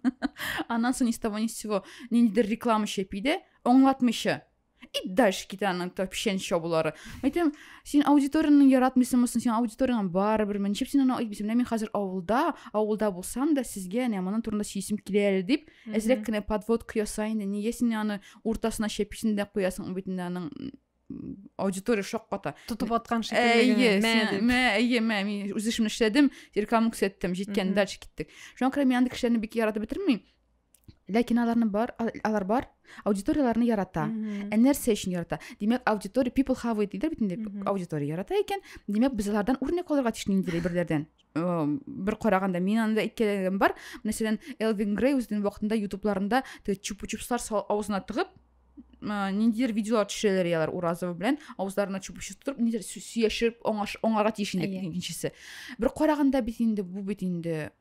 аннан соң ни с того ни с сего ниндидер реклама чәпи дә аңлатмыйча и дальше китә аның тәпчән чабулары әйтәм син аудиторияңне яратмыйсыңмы син аудиторияң барыбер ничек син аны әйтмисең менә мин хәзер авылда авылда булсам да сезгә әнә моның турында сөйлисем килә әле дип әзрәк кенә подводка яса инде нигә син аны уртасына чәписең дә куясың бит инде аның аудитория шакката тотып аткан шикелле әйе мә әйе мә мин үз эшемне эшләдем рекламаны күрсәттем җиткән дальше киттек шуңа күрә мин андый кешеләрне бик яратып бетермим ләкин аларны бар алар бар аудиторияләрне ярата ә нәрсә өчен ярата димәк аудитория people have it дидер бит инде аудитория ярата икән димәк без алардан үрнәк алырга тиеш ниндидер берләрдән бер караганда мин анда әйткәнем бар мәсәлән элвин грей үзенең вакытында ютубларында теге чупу чупслар авызына тыгып ниндидер видеолар төшерәләр ялар уразова белән авызларына чупу чупс тотып ниндидер сөяшеп аңарга тиеш инде икенчесе бер караганда бит инде бу бит инде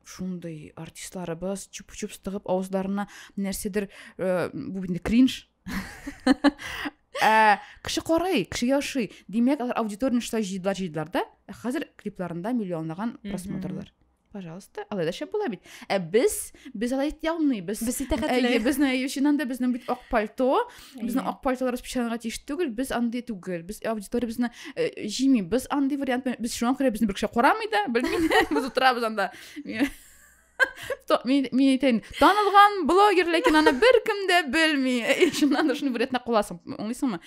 шундый артистларыбыз чупу чупс тыгып авызларына нәрсәдер э, бу инде кринж э, кеше карый кеше яши димәк алар аудиторияны шулай җыйдылар җыйдылар да ә хәзер клипларында миллионлаган просмотрлар пожалуйста алай да шәп була бит ә без без алай итә алмыйбыз без итәхәтле безне өчен анда безнең бит ак пальто Безнең yeah. ак партияләребез печатанырга тиеш түгел, без андый түгел. Без аудиториябезне э, җимибез андый вариант. Без шуңа күрә безне бер кеше карамый да, белмим. Без утырабыз анда. Мин әйтәйен, танылган блогер, ләкин аны беркем дә белми. Шуннан да шуны вариантына куласың. Аңлыйсыңмы?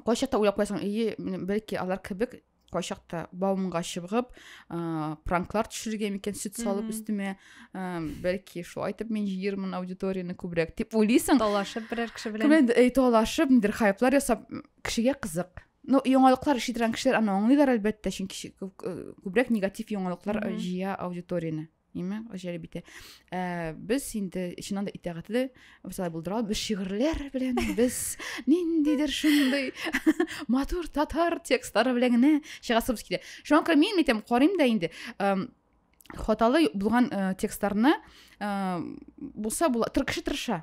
Кайчакта уйлап куясың, ие, бәлки алар кебек кайчакта баумга чыбгып ә, пранклар төшерергә микән сөт салып өстемә ә, бәлки шулай итеп мин җыермын аудиторияне күбрәк дип уйлыйсың талашып берәр кеше белән кемдер э, талашып нидер хайплар ясап кешегә кызык ну яңалыклар ишетелгән кешеләр аны аңлыйлар әлбәттә чөнки күбрәк негатив яңалыклар э, җыя аудиторияне нимә җәлеп бите ә, без инде чыннан да итәгатьле шулай булдыра без шигырьләр белән без ниндидер шундый матур татар текстлары белән генә чыгасыбыз килә шуңа күрә мин әйтәм карыйм да инде хаталы булган ә, текстларны ә, булса була тыр кеше тырыша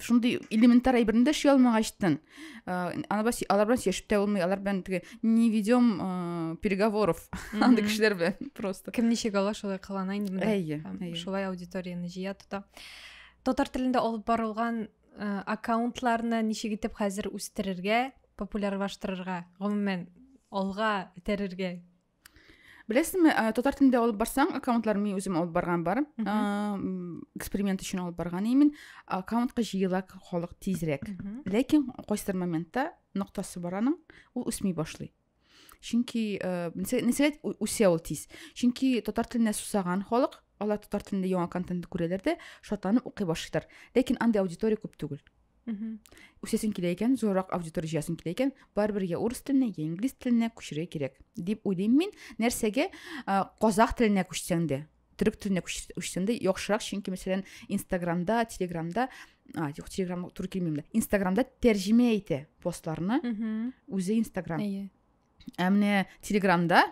шундый элементар әйберне дә эшли алмагачтын алар белән сөйләшеп тә булмый алар белән теге не ведем переговоров андый кешеләр белән просто кем ничек ала шулай кылана инде әйе шулай аудиторияны җыя тота татар телендә алып барылган аккаунтларны ничек итеп хәзер үстерергә популярлаштырырга гомумән алга этәрергә Беләсеңме, ә, э, татар телендә алып барсаң, аккаунтлар мин үзем алып барган бар. Ә, эксперимент өчен алып барган имин. Аккаунтка җыела халык тизрәк. Ләкин кайсыр моментта ноктасы бар аның, ул үсми башлый. Чөнки э, нәсәләт үсә ул тиз. Чөнки татар теленә сусаган халык, алар татар телендә яңа контент күрәләр дә, шатланып укый башлыйлар. Ләкин андый аудитория күп түгел. үсәсең килә икән зуррак аудитория җыясың килә икән барыбер я урыс теленә я инглиз теленә күчерергә кирәк дип уйлыйм мин нәрсәгә казах теленә күчсәң дә төрек теленә күчсәң дә яхшырак чөнки мәсәлән инстаграмда телеграмда а юк телеграм туры килмим дә инстаграмда тәрҗемә итә постларны үзе инстаграм ә менә телеграмда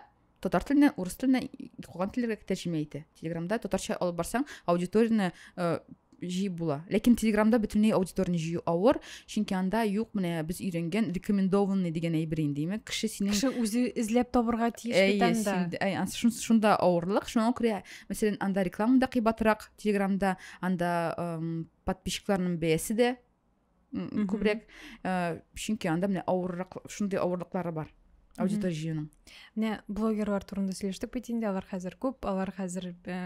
татар теленә урыс теленә калган телләргә тәрҗемә итә телеграмда татарча алып барсаң аудиторияне э, җыеп була ләкин телеграмда бөтенләй аудиторияне җыю авыр чөнки анда юк менә без өйрәнгән рекомендованный дигән әйбер инде димәк кеше синең кеше үзе эзләп табырга тиеш бит анда шунда авырлык шуңа күрә мәсәлән анда реклама да кыйбатрак телеграмда анда подписчикларның бәясе дә күбрәк ә, чөнки анда менә авыррак шундый авырлыклары бар аудитория җыюның менә блогерлар турында сөйләштек бит инде алар хәзер күп алар хәзер ә,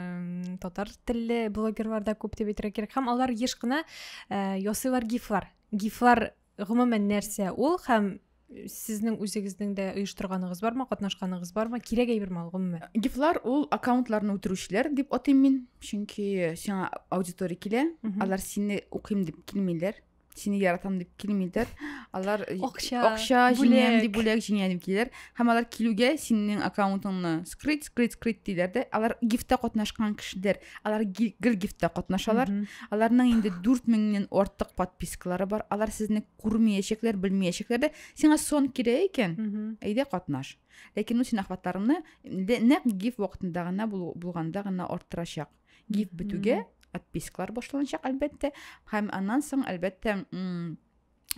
татар телле блогерлар да күп дип әйтергә кирәк һәм алар еш кына ә, ясыйлар гифлар гифлар гомумән нәрсә ул һәм сезнең үзегезнең дә оештырганыгыз бармы катнашканыгыз бармы кирәк әйберме ул гомумән гифлар ул аккаунтларны үтерүчеләр дип атыйм мин чөнки сиңа аудитория килә алар сине укыйм дип килмиләр сине яратам дип килмиләр алар акча акча җиңәм дип бүләк җиңәм дип киләләр һәм алар килүгә синең аккаунтыңны скрыть скрыть скрыть диләр дә алар гифта катнашкан кешеләр алар гел гифта катнашалар аларның инде дүрт меңнән артык подпискалары бар алар сезне күрмәячәкләр белмәячәкләр дә сиңа сон кирәк икән әйдә катнаш ләкин ул син ахватларыңны нәкъ гиф вакытында гына булганда гына арттырачак гиф бетүгә отпискалар башланачак әлбәттә һәм аннан соң әлбәттә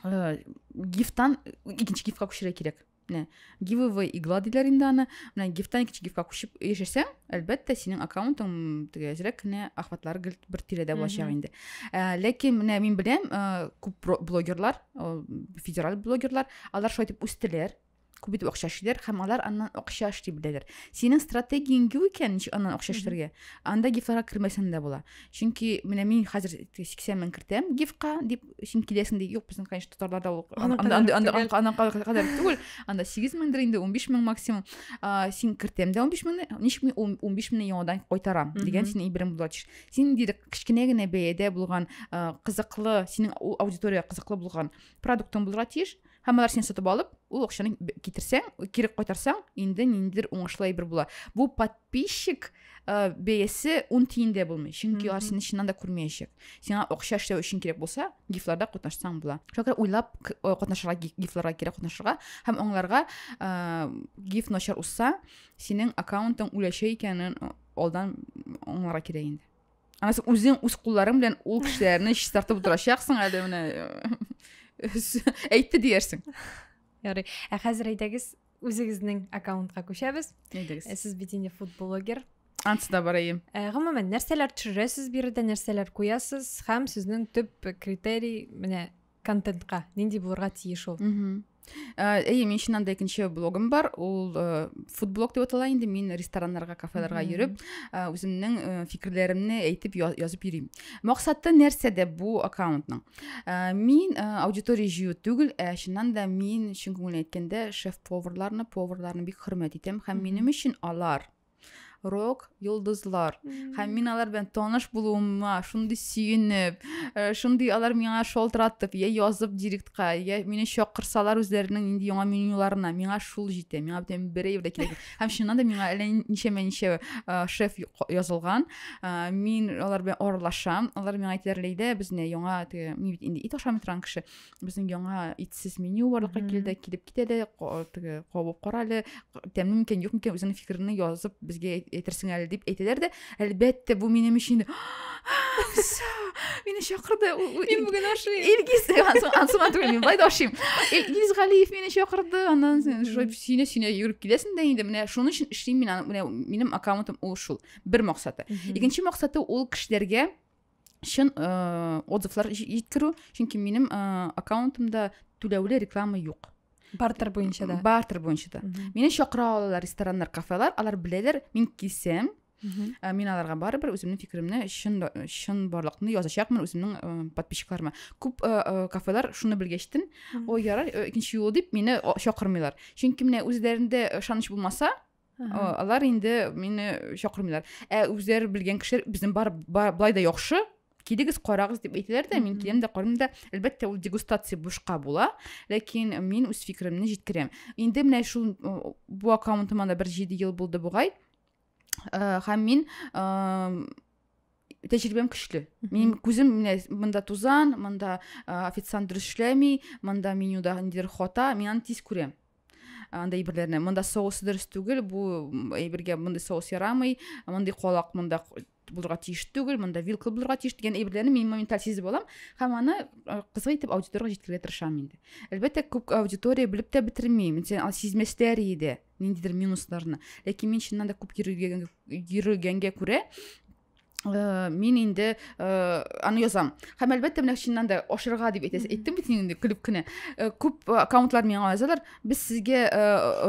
э, гифтан икенче гифка күчерә кирәк менә giveaway игла диләр инде аны менә гифтан икенче гифка күчеп яшәсәң әлбәттә синең аккаунтың теге әзрәк кенә охватлары гел бер тирәдә булачак инде ә, ләкин менә мин беләм ә, күп блогерлар федераль блогерлар алар шулай итеп үстеләр күп итеп акча эшлиләр һәм алар аннан акча эшли беләләр синең стратегияң юк икән ничек аннан акча эшләргә анда гифларга кермәсәң дә була чөнки менә мин хәзер сиксән мең кертәм гифка дип син киләсең ди юк безнең конечно татарларда ул анакадәр түгел анда сигез меңдер инде унбиш мең максимум син кертәм дә унбиш меңне ничек мин унбиш меңне яңадан кайтарам дигән синең әйберең була тиеш син инде кечкенә генә бәядә булган кызыклы синең аудитория кызыклы булган продуктың булырга тиеш һәм алар сине сатып алып ул акчаны китерсәң кире кайтарсаң инде ниндидер уңышлы әйбер була бу под подписчик ә, э, бәясе ун тиен дә булмый чөнки алар сине чыннан да күрмәячәк сиңа акча эшләү өчен кирәк булса гифларда катнашсаң була шуңа күрә уйлап э, катнашырга гифларга кирәк катнашырга һәм аңларга ә, э, гиф начар узса синең аккаунтың үләчәк икәнен алдан аңларга кирәк инде анан син үзең үз кулларың белән ул кешеләрне чистартып утырачаксың әле менә әйтте диярсең ярый ә хәзер әйдәгез үзегезнең аккаунтка күчәбез әйдәгез ә, сез бит инде фудблогер ансы да барайым ә, гомумән нәрсәләр төшерәсез биредә нәрсәләр куясыз һәм сезнең төп критерий менә контентка нинди булырга тиеш ул әйе мин чыннан да икенче блогым бар ул э, фудблог деп атала инде мин рестораннарга кафеларга йөреп э, үземнең э, фикерләремне әйтеп язып йөрим Максаты нәрсәдә бу аккаунтның? Э, мин э, аудитория җыю түгел, ә чыннан да мин чын күңелдән әйткәндә шеф-поварларны, поварларны бик хөрмәт итәм һәм минем өчен алар рок йолдызлар һәм мин алар белән таныш булуыма шундый сөенеп э, шундый алар миңа шалтыратып я язып директка я мине чакырсалар үзләренең нинди яңа менюларына миңа шул җитә миңа бүтән берәй дә кирәк һәм чыннан да миңа әллә ничәмә ничә э, шеф язылган э, мин алар белән аралашам алар миңа әйтәләр ләйдә безне яңа теге мин бит инде ит ашамый торган кеше безнең яңа итсез меню барлыкка килде килеп кит әле теге кабып кара әле тәмле микән юк микән үзеңнең фикереңне язып безгә әйтерсең әле дип әйтәләр дә Әлбәттә, бу минем өчен мине чакырды мин бүген ашыйм илгиз ансыма түгел мин былай да ашыйм илгиз галиев мине чакырды аннан сөйнә сөйнә йөгереп киләсең дә инде менә шуның өчен эшлим мин аны менә минем аккаунтым ул шул бер максаты икенче максаты ул кешеләргә чын ә, отзывлар җиткерү чөнки минем ә, аккаунтымда түләүле реклама юк бартер буенча да бартер буенча да мине чакыра алалар рестораннар кафелар алар беләләр мин килсәм ә, мин аларга барыбер үземнең фикеремне чын чын барлыкны язачакмын үземнең ә, подписчикларыма күп ә, кафелар шуны белгәчтен ой ярар икенче юл дип мине чакырмыйлар чөнки менә үзләрендә ышаныч булмаса алар инде мине чакырмыйлар ә үзләре белгән кешеләр безнең бар, бар былай да яхшы килегез карагыз дип әйтәләр дә мин киләм дә карыйм да әлбәттә ул дегустация бушка була ләкин мин үз фикеремне җиткерәм инде менә шул бу аккаунтыма да бер җиде ел булды бугай һәм мин тәҗрибәм көчле минем күзем менә монда тузан монда официант дөрес эшләми монда менюда ниндидер хата мин аны тиз күрәм андай әйберләрне монда соус дөрес түгел бу әйбергә мондый соус ярамый мондый колак монда булырга тиеш түгел монда вилка булырга тиеш дигән әйберләрне мин моменталь сизеп алам һәм аны кызык итеп аудиторияга җиткерергә тырышам инде әлбәттә күп аудитория белеп тә бетермим сизмәсләр иде ниндидер минусларны ләкин мин чыннан да күп йөрегәнгә күрә Э, мин инде э, аны язам һәм әлбәттә менә чыннан да ашырга дип әйтәсез әйттем бит инде көлеп кенә э, күп аккаунтлар миңа язалар без сезгә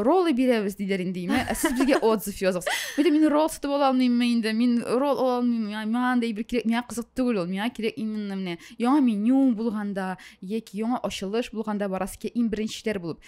роллы бирәбез диләр инде ә сез безгә отзыв языгыз бәлем мин ролл сатып ала алмыйммы инде мин ролл ала алмыйммы миңа андай бер кирәк миңа кызык түгел ул миңа кирәк именно менә яңа меню булганда яки яңа ачылыш булганда барасыз килә иң беренчеләр булып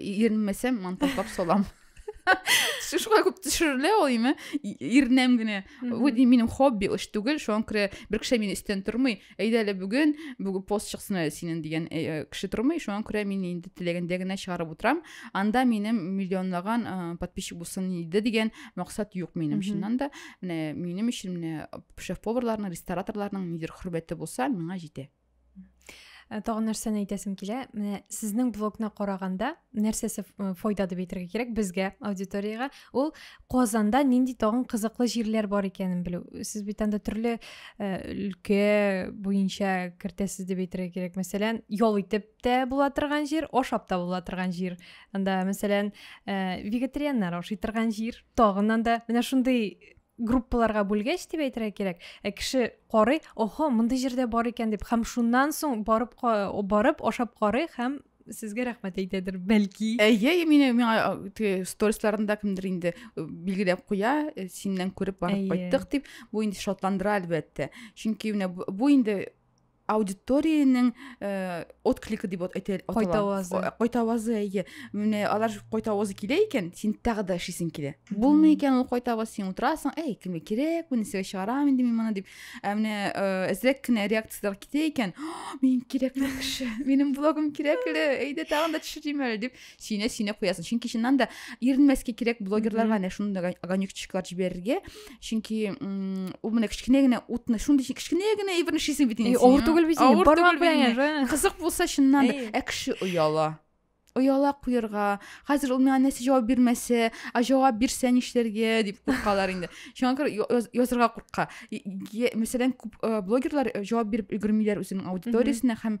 Иренмәсәм, монтажлап салам. Шулай күп төшерелә ул име? Ирнәм генә. Бу минем хобби эш түгел, шуңа күрә бер кеше мине өстен тормый. Әйдә әле бүген бүген пост чыксын әле синен дигән э, э, кеше тормый, шуңа күрә мин инде теләгәндә генә чыгарып утырам. Анда минем миллионлаган э, подписчик булсын иде дигән максат юк минем чыннан да. Менә минем өчен менә шеф-поварларның, рестораторларның нидер хөрмәте булса, миңа җитә. Э, тагын нәрсәне әйтәсем килә менә сезнең блогны караганда нәрсәсе э, файда дип әйтергә кирәк безгә аудиторияга ул казанда нинди тагын кызыклы җирләр бар икәнен белү сез бит анда төрле э, өлкә буенча кертәсез дип әйтергә кирәк мәсәлән ял итеп тә була торган җир ашап та була торган җир анда мәсәлән вегетарианнар ашый торган җир тагын анда менә шундый группаларга бүлгәч дип әйтергә кирәк ә кеше карый охо мондый җирдә бар икән дип һәм шуннан соң барып барып ашап карый һәм сезгә рәхмәт әйтәдер бәлки әйе мин миңа сторисларында кемдер инде билгеләп куя синнән күреп барып кайттык дип бу инде шатландыра әлбәттә чөнки менә бу инде аудиториянең э, откликы дип әйтә кайтавазы кайтавазы әйе менә алар кайтавазы килә икән син тагы да эшлисең килә булмый икән ул кайтаваз син утырасың әй кемгә кирәк бу нәрсәгә чыгарам инде мин моны дип ә менә э, әзрәк кенә реакцияләр китә икән мин кирәкле кеше минем блогым кирәкле әйдә тагын да төшерим әле дип сине сине куясың чөнки чыннан да иренмәскә кирәк блогерларга әнә шундый огонечкалар җибәрергә чөнки ул менә кечкенә генә утны шундый кечкенә генә әйберне эшлисең бит инде авыр түгел бит инде бармак белән кызык булса чыннан да ә кеше ояла ояла куярга хәзер ул миңа нәрсә җавап бирмәсә а җавап бирсә нишләргә дип куркалар инде шуңа күрә язырга курка мәсәлән күп блогерлар җавап биреп өлгермиләр үзенең аудиториясенә һәм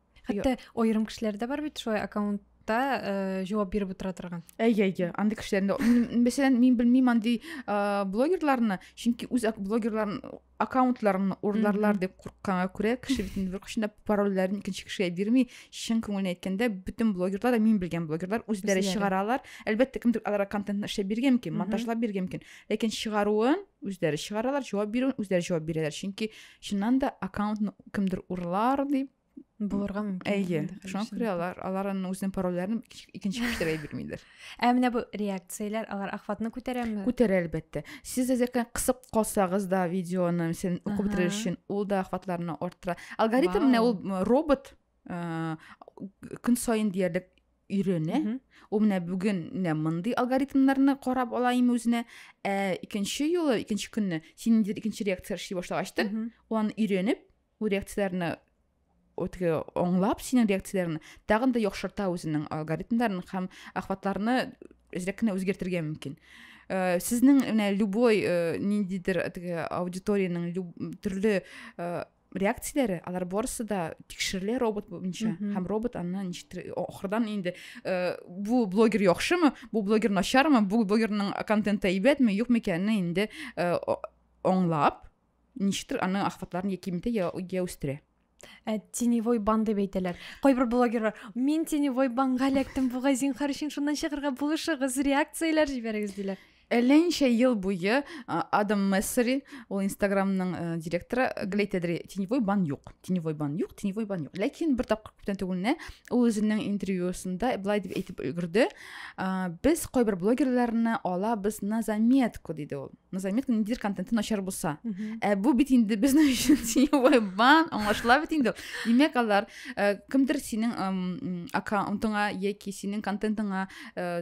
хәтта аерым кешеләр дә бар бит шулай аккаунт та э, җавап биреп утыра торган әйе әйе андый кешеләрне мәсәлән мин белмим андый э, блогерларны чөнки үз блогерларын аккаунтларын урларлар дип курыкканга күрә кеше бит инде беркайчан да парольләрен икенче кешегә бирми чын күңелен әйткәндә бөтен блогерлар да мин белгән блогерлар үзләре чыгара алар әлбәттә кемдер аларга контентны эшләп биргән мөмкин монтажлап биргән мөмкин ләкин чыгаруын үзләре чыгаралар җавап бирүен үзләре җавап бирәләр чөнки Чыннан да аккаунтны кемдер урлар дип булырга мөмкин. Әйе, шуңа күрә алар алар аны үзенең парольләрен икенче кешеләргә бирмиләр. Ә менә бу реакцияләр алар охватны күтәрәме? Күтәрә әлбәттә. Сез әзер кысып калсагыз да видеоны сен укып бетерер өчен ул да охватларны арттыра. Алгоритм менә ул робот э, көн саен диярлек өйрәнә. Ул менә бүген менә мондый алгоритмнарны карап ала име үзенә. Ә икенче юлы, икенче көнне син инде икенче реакция эшли башлагач та, аны өйрәнеп, бу реакцияләрне үтге аңлап синең реакцияләрне тагын да яхшырта үзенең алгоритмнарын һәм ахватларны әзрәк кенә үзгәртергә мөмкин. Э, сезнең менә любой э, ниндидер теге аудиториянең төрле э, реакцияләре алар барысы да тикшерелә робот буенча һәм робот аны ничектер ахырдан инде э, бу блогер яхшымы бу блогер начармы бу блогерның контенты әйбәтме юкмы икәнен инде э, аңлап ничектер аны ахватларын яки митә я, я үстерә ә теневой бан дип әйтәләр кайбер блогерлар мин теневой банга эләктем бугай зинхар өчен шуннан чыгарга булышыгыз реакцияләр җибәрегез диләр Әллә ничә ел буе Адам Мессери, ул Инстаграмның э, директоры, гел әйтәдер, теневой бан юк, теневой бан юк, теневой бан юк. Ләкин бер тапкыр күптән түгел генә ул үзенең интервьюсында былай дип әйтеп өлгерде, без кайбер блогерларны алабыз на заметку, диде ул. На заметку ниндидер контенты начар булса. Ә бу бит инде безнең өчен теневой бан, аңлашыла бит инде. Димәк, алар э, кемдер синең аккаунтыңа яки синең контентыңа э,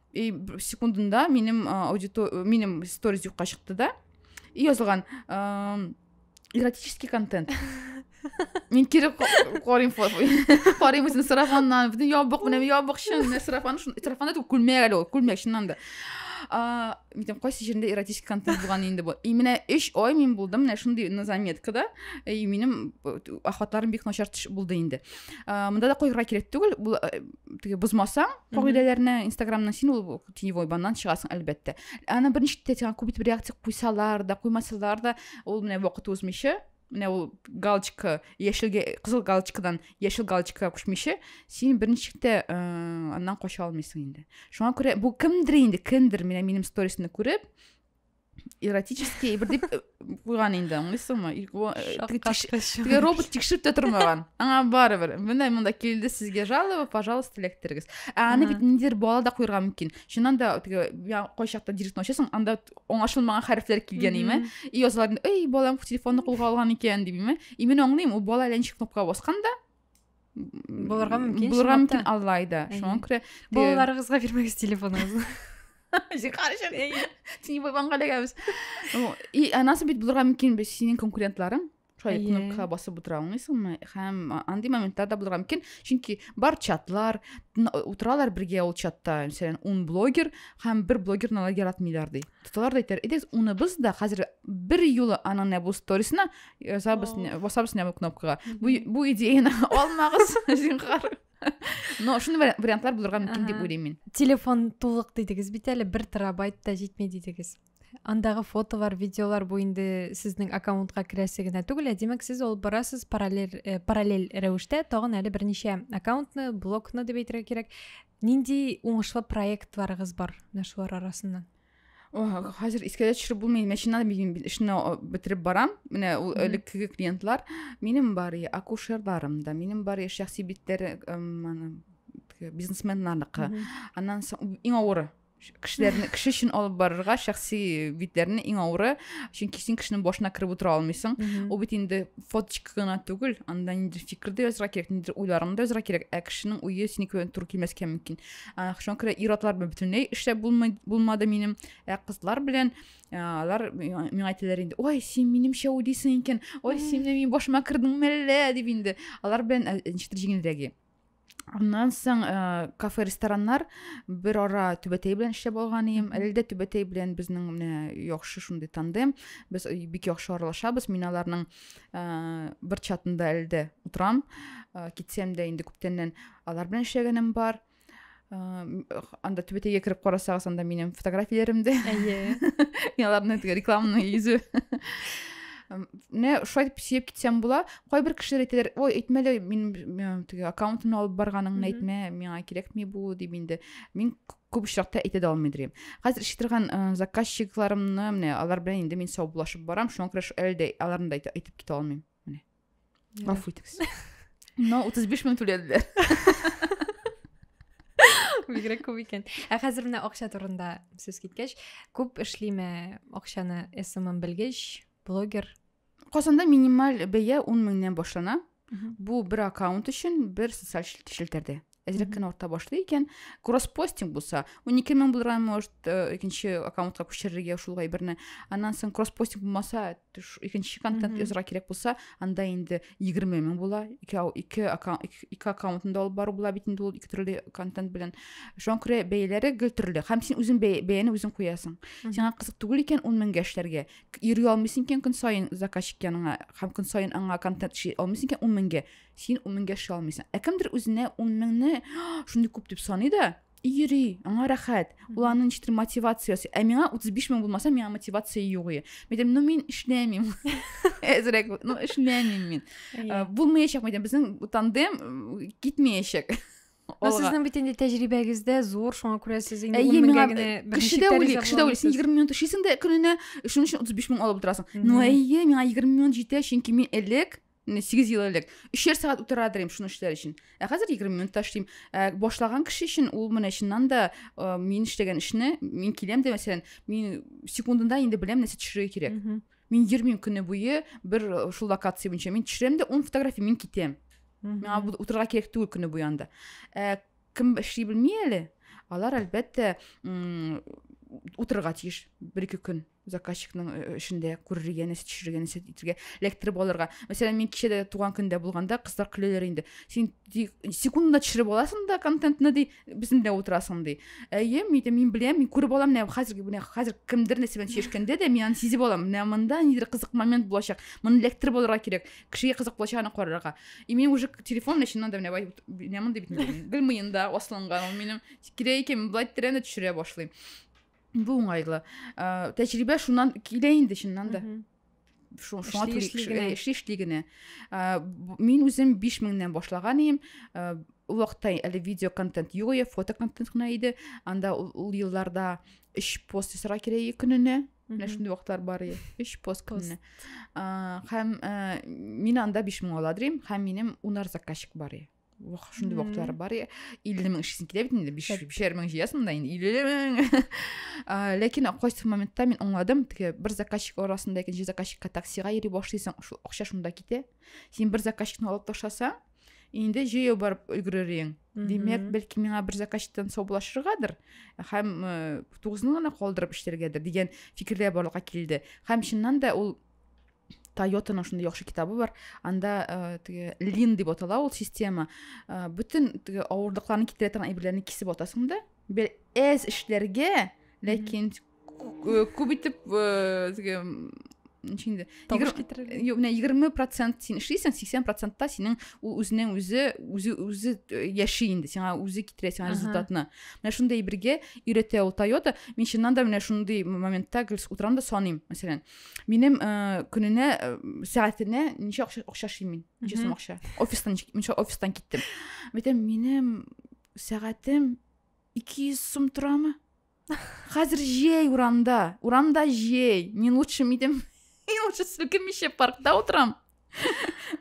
и секундында минем аудито минем сторис юкка чыкты да и язылган эротический контент мин кире карыйм карыйм үзен сарафаннан бөтен ябык менә ябык чын менә сарафан сарафан да түгел күлмәк әле ул күлмәк чыннан да митем кайсы җирендә эротический контент булган инде бу и менә өч ай мин булдым менә шундый на заметкада и минем охватларым бик начар булды инде мында да куярга кирәк түгел теге бозмасаң кагыйдәләрне инстаграмның син ул теневой баннан чыгасың әлбәттә аны берничек тә сиңа күп итеп реакция куйсалар да куймасалар да ул менә вакыт узмыйча менә ул галочка яшелгә кызыл галочкадан яшел галочкага күчмичә син берничек тә э, аннан кача алмыйсың инде шуңа күрә бу кемдер инде кемдер менә минем сторисны күреп эротический бер дип куйган инде аңлыйсыңмы теге робот тикшереп тә тормаган аңа барыбер менә монда килде сезгә жалоба пожалуйста эләктерегез ә аны бит ниндидер бала да куярга мөмкин чыннан да теге кайчакта директны ачасың анда аңлашылмаган хәрефләр килгән име и язалар эй балам телефонны кулга алган икән дип име и мин аңлыйм ул бала әллә ничек кнопкага баскан да булырга мөмкин булырга мөмкин аллайда шуңа күрә балаларыгызга бирмәгез телефоныгызны и анасы бит булырга мөмкин бит синең конкурентларың шулай кнопкага басып утыра алмыйсыңмы һәм андый моменттар да булырга мөмкин чөнки бар чатлар утыралар бергә ул чатта мәсәлән ун блогер һәм бер блогерны алар яратмыйлар ди тоталар да әйтәләр идегез уныбыз да хәзер бер юлы аның нәбу сторисына язабыз басабыз нәбу кнопкага бу, бу идеяны алмагыз зинхар но шуны вариантлар булырга мөмкин дип уйлыйм мин телефон тулык дидегез бит әле бер терабайт та җитми дидегез андагы фотолар видеолар бу инде сезнең аккаунтка керәсе генә түгел ә димәк сез алып барасыз параллель э, параллель рәвештә тагын әле берничә аккаунтны блокны дип әйтергә кирәк Нинди уңышлы проектларыгыз бар менә шулар арасыннан? хәзер искә дә төшереп булмый машинада мин эшне бетереп барам менә ул элеккеге клиентлар минем бар акушерларым да минем бар шәхси битләре бизнесменнардыкы аннан соң иң авыры кешеләрне кеше өчен алып барырга шәхси битләрне иң авыры чөнки син кешенең башына кереп утыра алмыйсың ул бит инде фоточка гына түгел анда ниндидер фикер дә язырга кирәк ниндидер уйларың да язырга кирәк ә кешенең уе синеке белән туры килмәскә мөмкин шуңа күрә ир атлар белән бөтенләй эшләп булмады минем ә кызлар белән алар миңа әйтәләр инде ой син минемчә уйлыйсың икән ой син менә минем башыма кердең мәллә дип инде алар белән ничектер җиңелрәге Аннан соң э, кафе рестораннар бер ара түбәтәй белән эшләп алган идем. Әле дә түбәтәй белән безнең менә яхшы шундый тандем. Без э, бик яхшы аралашабыз. Мин аларның э, бер чатында әле дә утырам. Э, китсәм дә инде күптәннән алар белән эшләгәнем бар. Э, анда түбәтәйгә кереп карасагыз, анда минем фотографияләрем дә. Әйе. Мин аларны рекламный йөзе. Менә шулай дип сөеп китсәм була. кайбер кешеләр әйтәләр ой әйтмә лә минем теге аккаунтымны алып барганыңны әйтмә миңа кирәкми бу дип инде мин күп очракта әйтә дә алмый дим хәзер эшли торган э, заказчикларымны менә алар белән инде мин саубуллашып барам шуңа күрә әле дә аларны да әйтеп китә алмыйм менә гафу итегез но утыз биш мең түләделәр бигрәк күп икән ә хәзер менә акча турында сүз киткәч күп эшлиме акчаны смм белгеч блогер Казанда минималь бәя 10 меңнән башлана. Бу бер аккаунт өчен бер социаль челтәрдә. Әзрәк кенә арта башлый икән. Кросспостинг булса, 12 мең булырга может, э, икенче аккаунтка күчерергә шул гайберне. Аннан соң кросспостинг булмаса, икенче контент язырга кирәк булса, анда инде 20 мең була. Ике ике аккаунт ике аккаунтында алып бару була бит инде ул ике төрле контент белән. Шуңа күрә бәяләре гел төрле. Һәм син үзең бәяне үзең куясың. Сиңа кызык түгел икән 10 меңгә эшләргә, йөри алмыйсың икән көн саен заказчик яныңа һәм көн саен аңа контент эшли алмыйсың икән ун меңгә син ун меңгә эшли алмыйсың ә кемдер үзенә ун меңне шундый күп дип саный да и йөри аңа рәхәт ул аны ничектер мотивация ясый ә миңа утыз биш мең булмаса миңа мотивация юк ие мен айтамын ну мин эшләмим әзрәк ну эшләмим мин булмаячак мен айтамын безнең тандем китмәячәк Ну, сезнең бит инде тәҗрибәгез дә зур, шуңа күрә сез инде 10 меңгә генә беренче тәрәзә буласыз. Кеше дә уйлый, син 20 минут эшлисең дә көненә, шуның өчен 35 мең алып утырасың. Ну, әйе, миңа 20 минут җитә, чөнки мин элек 8 ел элек өчәр сәгать утыра идем шуны эшләр өчен ә хәзер 20 минутта эшлим ә, башлаган кеше өчен ул менә чыннан да ә, мин эшләгән эшне мин киләм дә мәсәлән мин секундында инде беләм нәрсә төшерергә кирәк мин йөрмим көне буе бер шул локация буенча мин төшерәм дә ун фотография мин китәм миңа утырырга кирәк түгел көне буе анда ә, кем эшли белми әле алар әлбәттә утырырга тиеш бер ике көн заказчикның э, э, эшендә күрергә нәрсә төшерергә нәрсә итергә эләктереп алырга мәсәлән мин кичә дә туган көндә булганда кызлар көләләр инде син секундына төшереп аласың да контентны ди безнең белән утырасың ди әйе мин мин беләм мин күреп алам менә хәзерге менә хәзер кемдер нәрсә белән чиешкәндә дә мин аны сизеп алам менә мында нидер кызык момент булачак моны эләктереп алырга кирәк кешегә кызык булачагына карарга и мин уже телефон белән чыннан да менә бай менә мондый бит белмим да асланган ул минем кирәк икән былай тирәне төшерә башлыйм бу уңайлы ә, тәҗрибә шуннан килә инде чыннан да шуңа эшли генә мин үзем биш меңнән башлаган идем ул вакытта әле видео контент юк иде фото контент кына иде анда ул елларда өч пост ясарга кирәк көненә менә шундый вакытлар бар иде өч пост көнне һәм мин анда биш мең ала дим һәм минем унар заказчик бар иде шундый вакытлар бар иде илле мең эшлисең килә бит инде бишәр мең җыясың да инде илле мең ләкин кайсы моментта мин аңладым теге бер заказчик арасында икенче заказчикка таксига йөри башлыйсың шул акча шунда китә син бер заказчикны алып ташласаң инде җәяү барып өлгерер ең димәк бәлки миңа бер заказчиктан саубуллашыргадыр һәм э, тугызны гына калдырып эшләргәдер дигән фикерләр барлыкка килде һәм чыннан да ул тойотаның шундый яхшы китабы бар анда э, теге лин дип атала ул система э, бөтен теге авырлыкларны китерә торган әйберләрне кисеп атасың да бер әз эшләргә ләкин күп итеп теге ничек инде табыш китерергә юк менә егерме процент син эшлисең сиксән процентта синең ул үзенең үзе үзе үзе яши инде сиңа үзе китерә сиңа результатны менә шундый бергә өйрәтә ул тойота мин чыннан да менә шундый моментта гел утырам да саныйм мәсәлән минем көненә сәгатенә ничә акча акча эшлим мин ничә сум акча офистан ничә офистан киттем әйтәм минем сәгатем ике йөз сум торамы Хәзер җәй урамда. Урамда җәй. Мин лучше мидем. Мин лучше селкенмичә паркта утырам.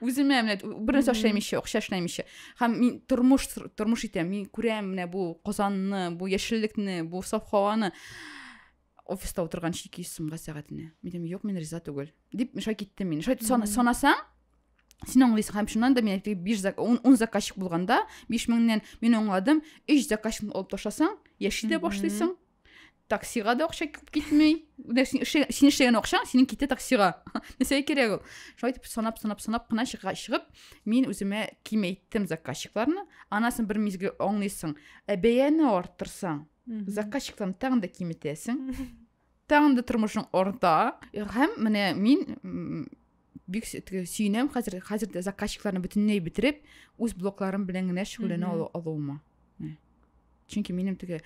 Үземә менә бер нәрсә эшләмичә, акча эшләмичә. Һәм мин тормыш тормыш итәм. Мин күрәм менә бу Казанны, бу яшеллекне, бу саф һаваны. Офиста утырган 200 сумга сәгатенә. Мин дим, юк, мин риза түгел. Дип, мешай киттем мин. Шай санасаң, сен аңлыйсың һәм шуннан да мин биш ун заказчик булганда биш меңнен мин аңладым өч заказчикны алып ташласаң яши дә башлыйсың таксига да акча китми син эшләгән акчаң синең китә таксига нәрсәгә кирәк ул шулай итеп санап санап санап кына чыгып мин үземә кимәйттем заказчикларны анасын бер мизгел аңлыйсың ә бәяне арттырсаң заказчикларны тагын да киметәсең тагын да тормышың арта һәм менә мин бик сөенәм хәзер хәзер дә заказчикларны бөтенләй бетереп үз блокларым белән генә шөгыльләнә алуыма чөнки минем теге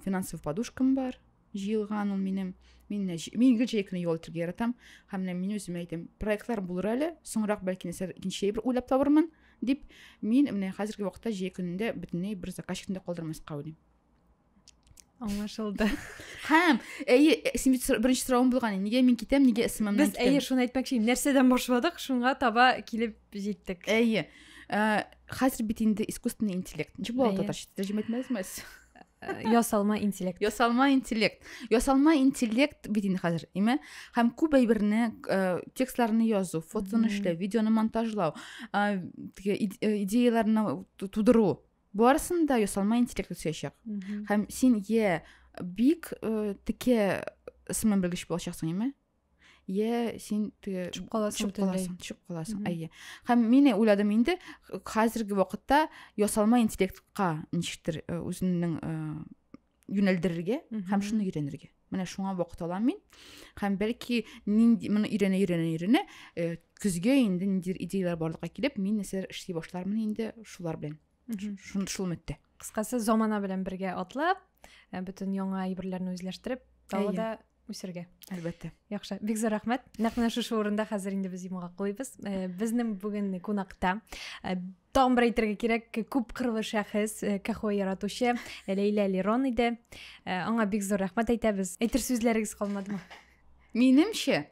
финансовый подушкам бар җыелган ул минем мин мин гел җәй көне ял итәргә яратам һәм менә мин үземә әйтәм проектлар булыр әле соңрак бәлки нәрсәләр икенче бер уйлап табырмын дип мин менә хәзерге вакытта җәй көнендә бөтенләй бер заказчикны да калдырмаска уйлыйм аңлашылды һәм әйе э, син бит беренче соравың булган нигә мин китәм нигә сммнан без әйе шуны әйтмәкче идем нәрсәдән башладык шуңа таба килеп җиттек әйе э, хәзер бит инде искусственный интеллект ничек була татарча тәрҗемә итмәдезме э, ясалма интеллект ясалма интеллект ясалма интеллект бит инде хәзер име һәм күп әйберне текстларны язу фотоны эшләү видеоны монтажлау идеяләрне тудыру барысын да ясалма интеллект үсәчәк һәм син йә бик э, текә сыман белгеч булачаксың яме йә син теге төшеп каласың төшеп төшеп каласың әйе һәм мин уйладым инде хәзерге вакытта ясалма интеллектка ничектер э, үзеңнең э, юнәлдерергә һәм шуны өйрәнергә менә шуңа вакыт алам мин һәм бәлки нинди моны өйрәнә өйрәнә өйрәнә э, көзгә инде ниндидер идеялар барлыкка килеп мин нәрсәләр эшли башлармын инде шулар белән шул, шул өметтә кыскасы замана белән бергә атлап э, бөтен яңа әйберләрне үзләштереп тағы да үсергә әлбәттә яхшы бик зур рәхмәт нәкъ менә шушы урында хәзер инде без йомгак куйбыз э, безнең бүген кунакта э, тагын бер әйтергә кирәк күп кырлы шәхес э, кахо яратучы ләйлә лерон иде аңа бик зур рәхмәт әйтәбез әйтер сүзләрегез калмадымы минемчә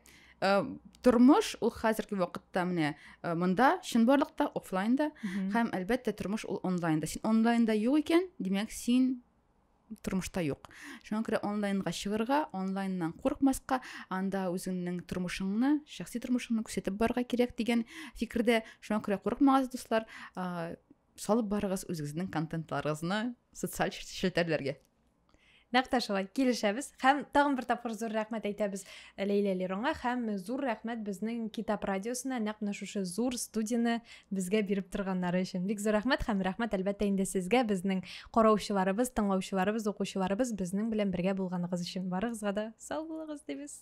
тормыш ул хәзерге вакытта менә э, монда чынбарлыкта офлайнда һәм әлбәттә тормыш ул онлайнда син онлайнда юк икән димәк син тормышта юк шуңа күрә онлайнга чыгырга онлайннан курыкмаска анда үзеңнең тормышыңны шәхси тормышыңны күрсәтеп барырга кирәк дигән фикердә шуңа күрә курыкмагыз дуслар салып барыгыз үзегезнең контентларыгызны социаль челтәрләргә нәкъ тә шулай килешәбез һәм тагын бер тапкыр зур рәхмәт әйтәбез ләйлә леронга һәм зур рәхмәт безнең китап радиосына нәкъ менә шушы зур студияне безгә биреп торганнары өчен бик зур рәхмәт һәм рәхмәт әлбәттә инде сезгә безнең караучыларыбыз тыңлаучыларыбыз укучыларыбыз безнең белән бергә булганыгыз өчен барыгызга да сау булыгыз дибез